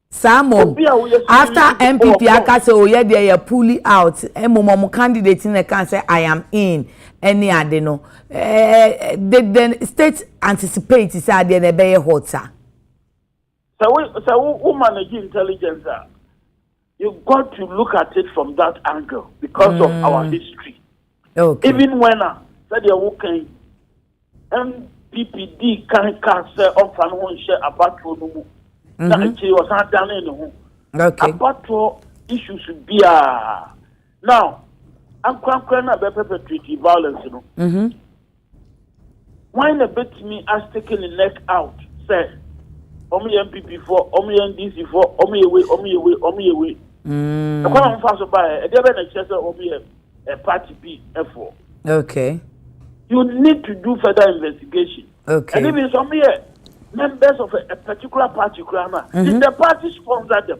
[SPEAKER 5] Saa
[SPEAKER 1] mmom, after NPP aka sɛ oh yɛ deɛ yɛ pulli out, mmom wɔn candidate no na ɛka sɛ I am in ɛne ade no, eh, did the state anticipate sɛ adeɛ no ɛbɛyɛ hot sa?
[SPEAKER 5] Sɛ wo sɛ wo wo manage intelligence a, you got to look at it from that angle because mm. of our mm. history. Even
[SPEAKER 1] when a
[SPEAKER 5] sɛdeɛ woka yi, NPP dii kan kaa sɛ ɔmfa ne ho nhyɛ abatoɔ no mu na mhm. akyire ɔsan danee ne ho. Abatoɔ issues biara now ankorankora no a bɛpɛpɛtrate violence no. Mhm. Hwan na betumi a stick ne neck out sɛ wɔn yɛ NPP fɔ, wɔn yɛ NDC fɔ, wɔn yɛ wei, wɔn yɛ wei, wɔn yɛ wei. Mm. Ɛkwan a wɔn fa so ba yɛ, ɛdeɛ bɛ na ɛkyerɛ sɛ wɔn yɛ eh, party bi fɔ. Okay.
[SPEAKER 1] You
[SPEAKER 5] need to do further investigation. Okay. And even some
[SPEAKER 1] here,
[SPEAKER 5] members of a, a particular party, mm -hmm. did the party sponsor them?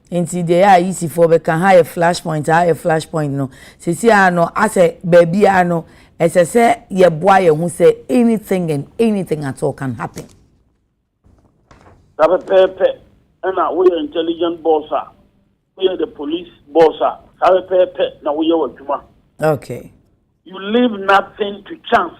[SPEAKER 1] Enti deɛ ɛyɛ a Yisifoɔ bɛka, ha yɛ flash point, ha yɛ flash point no, seesei ara no, asɛ baabi ara no, ɛsɛ sɛ yɛboa yɛn ho sɛ anything and anything at all can happen. Saa
[SPEAKER 5] pɛpɛɛpɛ na woyɛ intelligent boss a, woyɛ the police boss a, saa pɛpɛɛpɛ na woyɛ w'adwuma. Okay.
[SPEAKER 1] You
[SPEAKER 5] leave nothing to chance.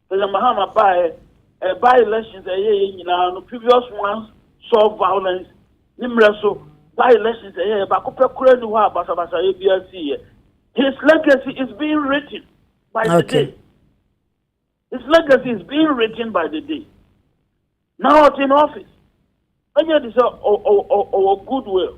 [SPEAKER 5] President Mahama baeɛ, eh, by-elections a ɛyɛ yɛ nyinaa no, previous ones saw violence ne mmerɛ so, by-elections a ɛyɛ yɛ baako pɛ koraa ni hɔ a basabasayɛ biara siiɛ. His legacy is being written by okay. the day. His legacy is being written by the day. Now it's in office. Ɛnyɛ de sɛ ɔwɔ goodwill.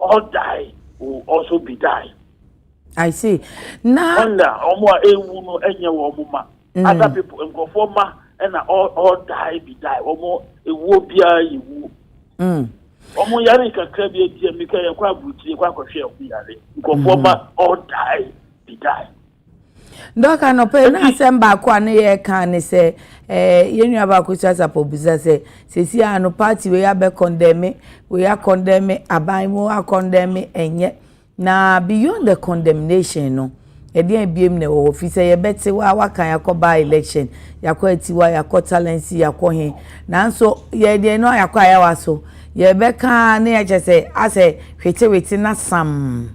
[SPEAKER 5] All die will also be die. I see.
[SPEAKER 1] Na. Wonder ọmụ a ewu no enye wọ ọmụ
[SPEAKER 5] ma. Mm. Other people nkurọfoɔ ma na all all die be die ọmụ ewuo biara yɛ wuo. Mm. Ọmụ yare kakra bi ebi a mika yɛ kɔ aburukyire kɔ akɔhwɛ ọmụ yare nkurɔfoɔ ma all die be die.
[SPEAKER 1] Dɔk anɔpa yi na asɛm baako a ne yɛka ne sɛ eh, yɛn nua baako so asafo bisa sɛ sɛsi a no party wei abɛ kɔndɛme wei akɔndɛme aban mu akɔndɛme ɛnyɛ na beyond the condemnation no ɛdeɛn abiem na ɛwɔ hɔ fi sɛ yɛbɛte wa waka yɛakɔ ba election yɛakɔ atiwa yɛakɔ talensi yɛakɔ he nanso yɛdeɛ no yɛakɔ ayawa so yɛbɛka ne yɛkyɛ sɛ asɛ hwetewete na sam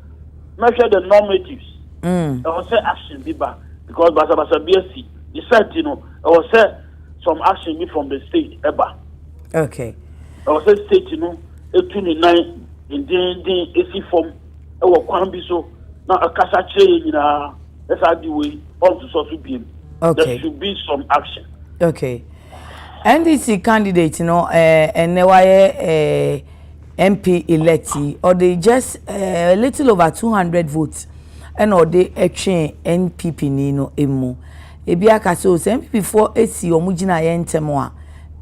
[SPEAKER 5] mɛhwɛ the normatives ɛwɔ sɛ action bi ba because basabasa bi asi ne saa ti no ɛwɔ sɛ some action bi from the state ɛba okay
[SPEAKER 1] ɛwɔ sɛ
[SPEAKER 5] state no etu ne nan dendenden esi fam ɛwɔ kwan bi so na akasa kyerɛ yɛn nyinaa ɛsɛ adi wei ɔntosɔ so biem okay there should be
[SPEAKER 1] some
[SPEAKER 5] action okay
[SPEAKER 1] ndc candidate no ɛɛ eh, ɛnɛ wayɛ ɛɛ. Eh, MP elect yi, ɔde just a little over two hundred votes ɛna ɔde ɛtwee NPP ni no mu. Ebi aka sɛ o sɛ NPP foɔ esi wɔn gyinaeɛ ntɛm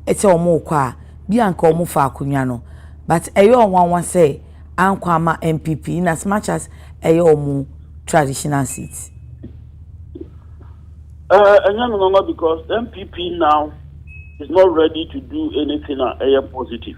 [SPEAKER 1] a sɛ wɔn rekɔ a bi a nka wɔn fa akonnwa no but ɛyɛ wɔn nwanwa sɛ ankɔ ama NPP in as much as ɛyɛ wɔn traditional seat. Uh, and
[SPEAKER 5] young mama, because MPP now is not ready to do anything uh, positive.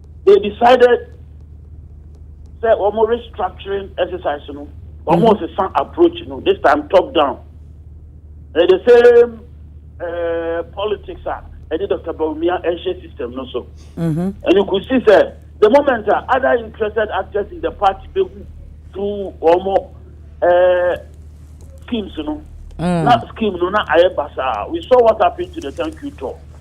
[SPEAKER 5] they decided sɛ wɔn restructuring exercise no wɔn mm-hmm. sesa approach no this time top down ɛyɛ the same uh, politics a ɛde dr bawumia ɛhyɛ system no so mm-hmm. and you could see sɛ the moment a other interested actors in the party bɛ hu through wɔn uh, schemes no mm. na scheme no na ayɛ basaa we saw what happened to the thank you talk.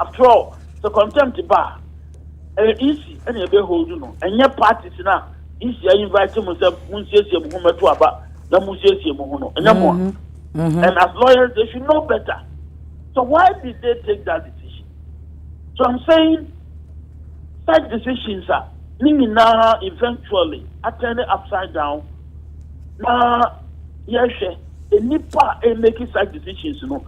[SPEAKER 5] After all, sɛ contempt ba a, ɛyɛ EC na ɛbɛ hold no, ɛnyɛ parties no a EC a invite mo sɛ mo nsiesie mo ho mɛto aba na mo nsiesie mo ho no, ɛnyɛ mo a. Mm-hmm. Mm-hmm. And as lawyers, they should know better. So why did they take that decision? So I'm saying such decisions are now eventually are turning upside down. Now, yes, a nipa a making such decisions, you know,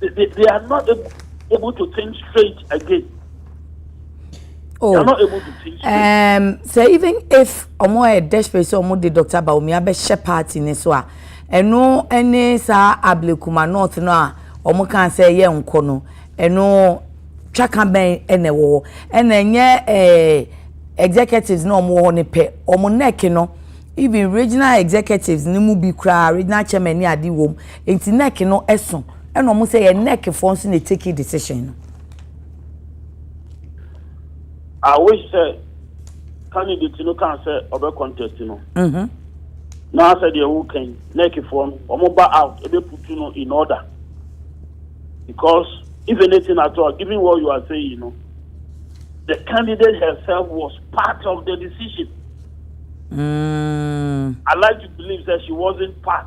[SPEAKER 1] they, they, they
[SPEAKER 5] are not able, able to think straight again. Oh,
[SPEAKER 1] they are not able to think straight. Um, so even if ọmọ ẹ desperate sọ ọmọ de Dr. Baomi abẹhyẹ party ni so a ẹnu ẹni saa Ablekuma north no a ọmọ kan sẹ ẹyẹ nkọ no ẹnu twaka bẹn ẹna ẹwọ hɔ ẹna ẹnyẹ ẹ executives na ọmọ wɔ hɔ ne pɛ ọmọ neck no even regional executives ni mu bi koraa regional chairman ni adi wɔm. Nti nec no so ɛna ɔmo sɛ yɛ nec foɔ nso na eteki decision no.
[SPEAKER 5] I wish sɛ candidate no kan sɛ ɔbɛ contest no. Mhm. Na sɛ deɛ wo kan nec foɔ no ɔmo ba out ebe putu no in order because if anything at all given what you are saying no the candidate herself was part of the decision. Mm. I like to believe that she wasn't part.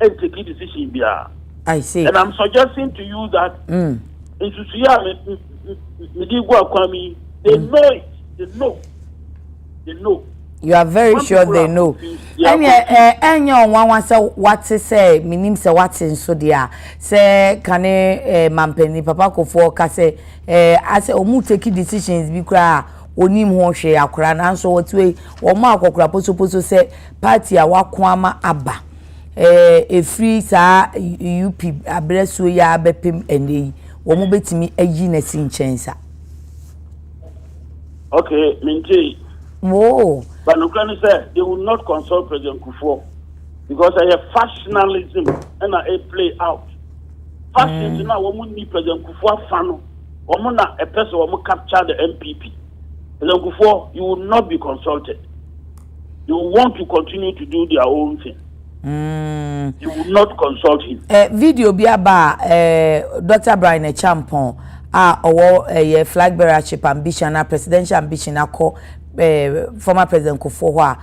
[SPEAKER 5] and take
[SPEAKER 1] decision biara. I
[SPEAKER 5] see. And I'm suggesting to you that mm. nsusu yi a me di gu akwan mi they mm. know it they
[SPEAKER 1] know they know. You are very When sure they know. Ɛnni ɛ ɛnyɛ ɔnwanwa sɛ wate sɛ minim sɛ wate nso deɛ a sɛ kane ɛ eh, mampanin papa kofoɔ ka sɛ ɛ eh, asɛ wɔn take decisions bi koraa a onim ho hwee akora nanso wɔtue wɔn a akɔkora posoposo sɛ party a wɔako ama aba ɛfiri saa UP aberɛsoɔ yi ara bɛpem ɛnnɛ yi, wɔbɛtumi ayi no asi nkyɛn sa.
[SPEAKER 5] Okay, mentei. Oh.
[SPEAKER 1] But nokora ne sɛ,
[SPEAKER 5] they will not consult President Kufuor because ɛyɛ factionalism ɛna a play out. Factions mm. na wɔn nni President Kufuor afa no, wɔn na ɛpɛ sɛ wɔn capture the MPP. President Kufuor, you will not be consulted. they will want to continue to do their own thing. Mm. You will not consult him. Eh, video bi aba
[SPEAKER 1] eh, Dr. Brian Echampon a ɔwɔ ɛyɛ flag bearership ambition na presidential ambition akɔ eh, former president Kufuor hɔ a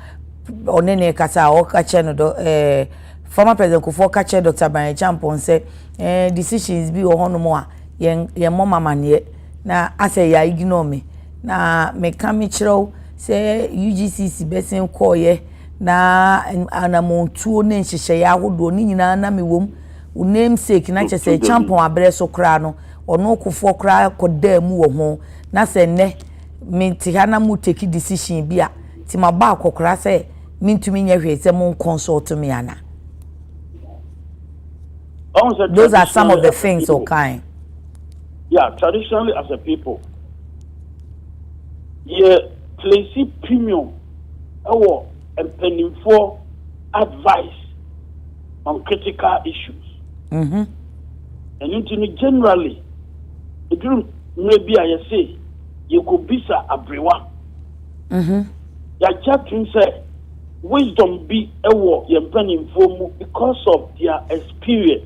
[SPEAKER 1] ɔne ne kasa a ɔka kyerɛ no dɔ eh, former president Kufuor ka kyerɛ Dr. Brian Echampon sɛ eh, decisions bi wɔ hɔnom a yɛn yɛn mmɔ mamaneɛ. Na asɛ ya ignore me na me ka me kyerɛ wo sɛ UGCC bɛsen kɔɔyɛ na anamɔntuo ne nhyehyɛeɛ ahodoɔ ne nyinaa na me wɔm wo namesake na kyɛ sɛ kyampɔn aberɛ so koraa no ɔno kofoɔ koraa kɔdaa mu wɔ ho na sɛ nnɛ me te ha na mo take decision bi a ti ma bɔ akɔkora sɛ mentumi nyɛ hwee sɛ mo nkɔnsɔɔto me ana those are some of the things ɔkae. Yeah,
[SPEAKER 5] traditionally as a people, yɛ place premium ɛwɔ mpanimfoɔ advice on critical issues. Mm-hmm. Ɛno nti no generally, ɛduru mmerɛ bi a yɛse yɛkɔbisa aberewa. Mm-hmm. Yɛagye atom sɛ wisdom bi ɛwɔ yɛn mpanimfoɔ mu because of their experience.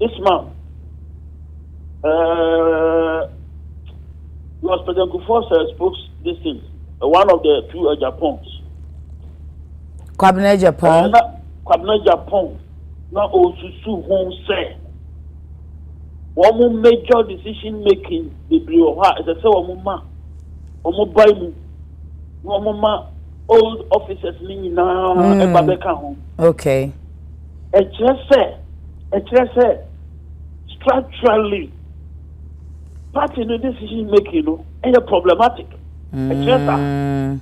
[SPEAKER 5] this month uh, was President Kufuor's uh, spokes this thing, uh, one of the two uh, Japons. Kwabena
[SPEAKER 1] Japan. Uh, na, Kwabena Japan
[SPEAKER 5] na osusu ho sɛ wɔn major decision making bebree wɔ hɔ a ɛsɛ sɛ wɔn ma wɔn ba mu na wɔn ma old officers ne nyinaa ɛba bɛka ho.
[SPEAKER 1] okay.
[SPEAKER 5] ɛkyerɛ sɛ ɛkyerɛ sɛ structurally party no decision making no ɛyɛ problematic ɛkyerɛ sa mm.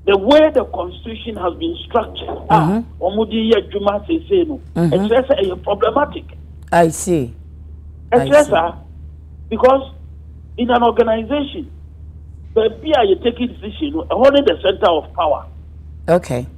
[SPEAKER 5] the way the constitution has been structured a ah, mhm. wɔn de yɛ adwuma sese no mhm. ɛkyerɛ sɛ ɛyɛ problematic. i see.
[SPEAKER 1] ɛkyerɛ sa
[SPEAKER 5] because in an organization baabi a yɛ take decision no ɛhɔ ne the center of power. okay.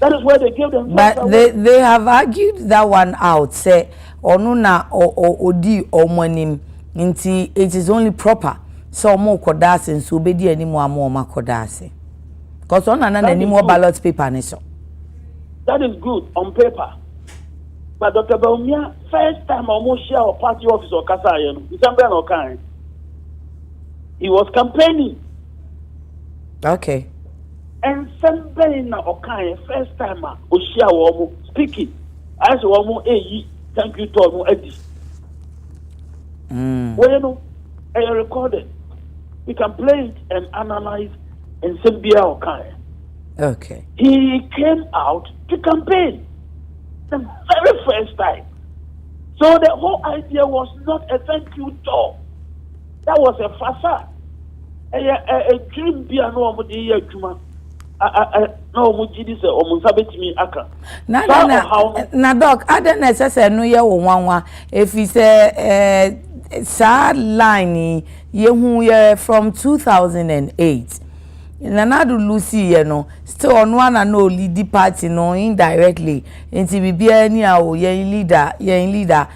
[SPEAKER 5] That is where they gave them. But they they have argued
[SPEAKER 1] that one out. Say ono na odi omo anim. Nti it is only proper. So omo koda ase nso obedi anim ama omo akoda ase. Because ona na n'anim wɔ ballot paper ne so.
[SPEAKER 5] That is good on paper. But Dr. Bawumia first time omo share our party office or kasa ayɛ no. Nsɛm bɛn na ɔkae? He was campaigning.
[SPEAKER 1] Okay.
[SPEAKER 5] Nsɛm bɛn na ɔkaeɛ first time a ɔhyia wɔn speaking? Ayɛ sɛ wɔn ɛyi thank you tour no adi. Mm. Wɔyɛ no ɛyɛ recorded. We can play it and analyze nsɛm biara ɔkaeɛ. Okay.
[SPEAKER 1] He came
[SPEAKER 5] out to campaign the very first time. So the whole idea was not a thank you tour. That was a fasa ɛyɛ adwiri bi a na wɔn de yɛ adwuma
[SPEAKER 1] na wɔn gye di sɛ wɔn nsa betumi aka. na na na na dɔk adɛ na ɛsɛ sɛ ɛno yɛ wo nwanwa efi sɛ ɛɛ saa line yi yehu yɛ from two thousand and eight nanado lucy yɛ no still ɔno ana na olidi party no indirectly nti biribiara ni a o yɛn leader yɛn leader.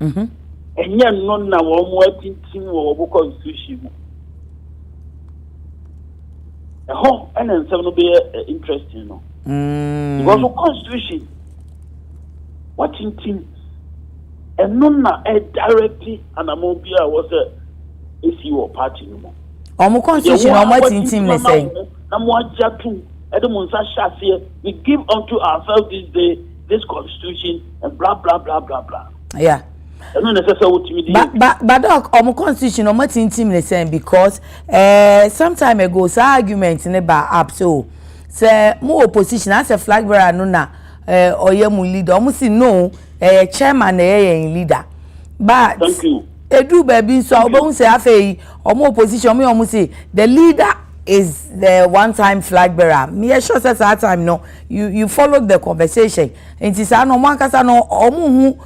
[SPEAKER 5] Mhm. Ɛnyɛ no na wɔn mu atintim wɔ wɔbokɔ nsuhyi mu. Ɛhɔ ɛna nsɛm no bɛyɛ eh, interesting no. Mm. Because wokɔ nsuhyi, watintim. Ɛno na ɛdirecti anamɔn bi a wɔsɛ esi wɔ party no mu. Wɔn kɔ nsuhyi na wɔn
[SPEAKER 1] atintim ne sɛn? Na mo agye atum ɛde mo nsa
[SPEAKER 5] hyɛ aseɛ. We give unto ourselves this day this constitution and blah blah blah blah blah. Yeah.
[SPEAKER 1] ɛno na ɛsɛ sɛ wotumi di. ba ba ba dɔk ɔmo constitution ɔmo atintim ne sɛn because ɛɛ eh, some time ago saa argument ne ba up so sɛ mo opposition asɛ flag bearer no na ɛɛ eh, ɔyɛ mo leader ɔmo si no ɛyɛ eh, chairman na ɛyɛ yɛn leader but. thank you.
[SPEAKER 5] edu baabi nso a
[SPEAKER 1] wobɛhu sɛ afei ɔmo opposition ɔmo yɛ ɔmo si the leader is the one time flag bearer meyɛ sure sɛ saa time no. you you followed the conversation nti saa no wɔn ankasa no wɔn hu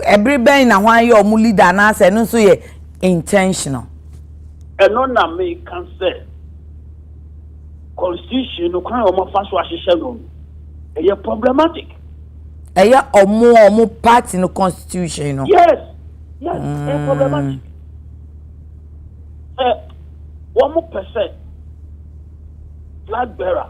[SPEAKER 1] ɛbere bɛn na wɔn ayɛ wɔn leader anaasɛ ɛno nso yɛ intentional.
[SPEAKER 5] ɛno na meka sɛ constitution no kwan a wɔn afa so ahyehyɛ no ɛyɛ problematic. ɛyɛ
[SPEAKER 1] wɔn a wɔn party no constitution no. yes yes mm. ɛyɛ problematic.
[SPEAKER 5] sɛ wɔn pɛ sɛ flag bearer.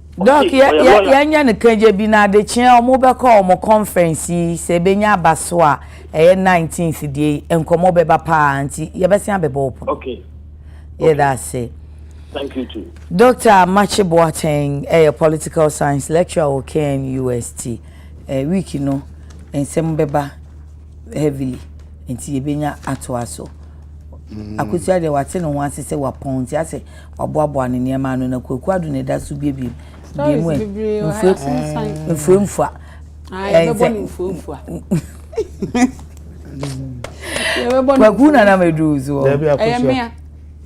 [SPEAKER 5] Doc,
[SPEAKER 1] yɛ, yɛ, yɛnyɛ no kagya bi na adekyeɛ ɔmo bɛkɔ ɔmo conference yi, sɛ ɛbɛnya aba so a, ɛyɛ 19th deɛ yi, nkɔmmɔ bɛba paa, nti yɛbɛsen abɛbɔ wo pono. Okay.
[SPEAKER 5] Yɛda
[SPEAKER 1] ase. Thank you
[SPEAKER 5] too. Doctor Amakye
[SPEAKER 1] Boateng ɛyɛ political science lecturer wɔ KNUST. Eh, week no, nsɛm bɛba. heavily nti yɛbɛnya atoa so. Mm. Akosua deɛ wate ne ho ase sɛ wapɔn nti asɛ waboaboa ne nneɛma ano na Kwaku Ado na ɛda so biebie bie mu ɛ mfuamfua.
[SPEAKER 2] Kwaku
[SPEAKER 1] na na mɛduru so. Ɛyɛ mmea.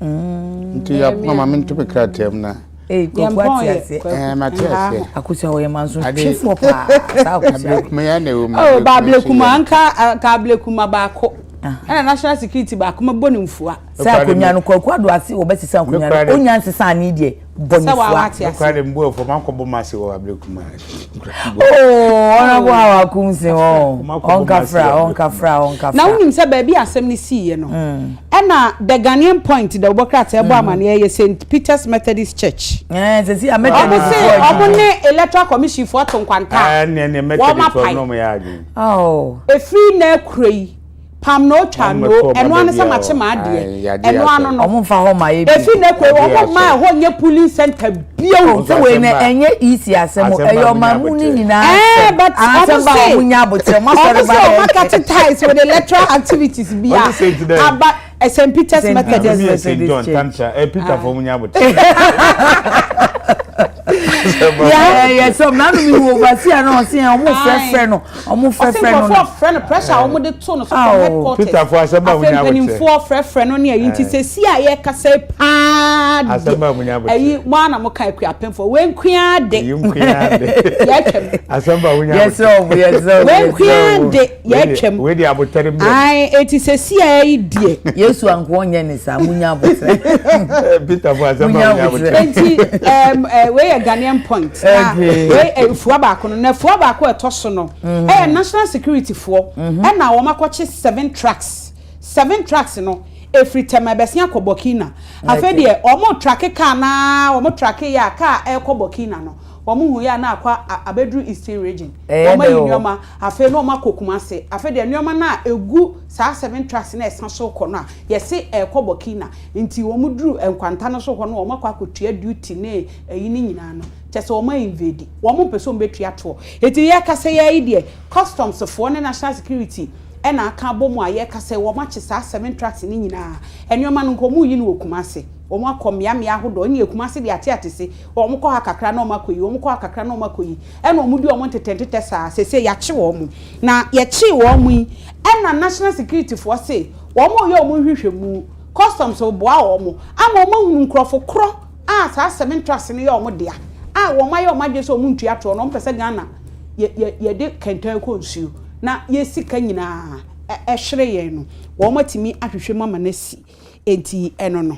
[SPEAKER 3] Nti yɛ mama me nto me krataa mu na. Ee, Kwaku ate
[SPEAKER 1] ase. Ɛɛ, mate ase.
[SPEAKER 3] Akosua wɔyɛ manso
[SPEAKER 1] twifoɔ paa. Saa akosua. Ablekuma ya na ɛwɔ mu.
[SPEAKER 3] Oh, ba ablekuma
[SPEAKER 2] nka ka ablekuma baako. Ɛna national security baako mɛbɔ ne mfua. Sɛ akonnwa no Kwaku
[SPEAKER 1] ado ase wɔbɛsesa akonnwa no. Onya nsesa ne deɛ bɔ ne fua. Sɛ wɔn ate ase. Nokora de mbu ɛfɔ
[SPEAKER 3] mankɔ bɔ mase wɔ ablekuma.
[SPEAKER 1] Oh, honorable how I come say oh. Onka fra, onka fra, onka fra. Na unim say
[SPEAKER 2] baby asem ni si ye no. Hmm. E na the Ghanaian point the obokra te ebo hmm. amane ye St Peter's Methodist Church. Eh, se si a Methodist.
[SPEAKER 1] Obo se obo ne
[SPEAKER 2] electoral commission for to kwanta. Eh, ne ne Methodist
[SPEAKER 3] no me ya adwen. Oh. E free
[SPEAKER 1] na
[SPEAKER 2] kure yi. Pam no twa no, ɛno ara ne sɛ makye m'adeɛ. Ɛno ano no. Wɔn mfa hɔ ma yɛ bi. Efi
[SPEAKER 1] ne kɔ wɔn mma
[SPEAKER 2] ɛhɔ nyɛ polling center bio. O nso wei na ɛnyɛ
[SPEAKER 1] EC asɛm o, ɛyɛ ɔman mu ne nyinaa asɛm. Asɛm
[SPEAKER 2] ba wɔn nya
[SPEAKER 1] abotire, wɔn asɔre ba yɛ. Wɔn sɛ wɔn akate ties with
[SPEAKER 2] electoral activities bi a. Aba St. Peter's Methodist. Ɛmi yɛ St. John Tantra,
[SPEAKER 3] ɛ Peter fɔ wɔn nya abotire.
[SPEAKER 1] Yɛ yɛ sɛ ɔmɔ nanu mi wɔ ɔbasi a na ɔsi yɛn ɔmɔ fɛfɛ no. Ɔmo frɛ frɛ no no. Ɔse nkorɔfoɔ frɛ
[SPEAKER 2] no pressure a ɔmo de to no so from headquarters. Peter foɔ asɛm a wonya abɛkyɛ. Afei
[SPEAKER 3] mpaninfoɔ frɛ frɛ no ne
[SPEAKER 2] ayi nti sɛsi a yɛkasa yi paa de. Asɛm a wonya abɛkyɛ.
[SPEAKER 3] Ayi mo ara na mo ka
[SPEAKER 2] Akuapem foɔ wei nkoaa de. Wei nkoaa de. Yɛatwam. Asɛm a wonya abɛkyɛ. Yɛsrɛ
[SPEAKER 3] wo mo yɛsrɛ wo.
[SPEAKER 1] Wei nkoaa de
[SPEAKER 2] yɛatwam. Wei de abotare mmra mu.
[SPEAKER 3] Ae eti sɛsi
[SPEAKER 2] a yi deɛ. Yesu ankoa ɔnyɛ
[SPEAKER 1] ne. saa mo nya abotire. peter
[SPEAKER 3] fo asɛm ma mo nya abotire. nti ɛɛm
[SPEAKER 2] ɛɛ wei yɛ ghanaian point na wei ɛfua baako no na ɛfua baako a ɛtɔ so no ɛyɛ national security foɔ ɛna wɔn akɔkye seven trucks seven trucks no efiri tɛmɛ bɛsi akɔ burkina afei deɛ wɔn trake car naa wɔn trake yɛ a car ɛɛkɔ burkina no wɔn hu yɛ a na akɔ abɛduru eastern region wɔn ayi nneɛma afei na wɔn akɔ kumase afei deɛ nneɛma no a egu. Saa Seven Trucks no a ɛsa so rekɔ no a yɛse ɛrekɔ Burkina nti wɔn duru nkwanta no so hɔ no wɔn akɔ akɔtua duty ne ɛyi no nyinaa no kyerɛ sɛ wɔn a invade wɔn mpɛ sɛ wɔn bɛtua toɔ nti yɛrekasa yi ara yi deɛ customs foɔ ne national security na aka abɔ mu a yɛrekasa yi wɔn akye saa Seven Trucks no nyinaa nnoɔma no nka wɔn reyi no wɔ Kumasi wɔn akɔ mmea mmea ahodoɔ nneɛ Kumasi deɛ ate ate se wɔn kɔ ha kakra na wɔn akɔyi wɔn kɔ ha kakra na wɔn akɔyi ɛna wɔn di wɔn ntetɛ ntetɛ saa sese yɛakye wɔn na yɛkyee wɔn yi Ɛna National Security foɔ se wɔn reyɛ wɔn nhwehwɛmu, Customs reboa wɔn ama wɔn ahunu nkorɔfo korɔ a saa seven trucks no yɛ wɔn dea a wɔn ayɛ wɔn adwene sɛ wɔn ntua toɔ na wɔn pɛ sɛ Ghana yɛ yɛ yɛde kɛntɛn kɔ nsuo na yɛ sika nyinaa ɛhwere yɛn no wɔn atumi ahwehwɛ mu ama no asi enti ɛno no.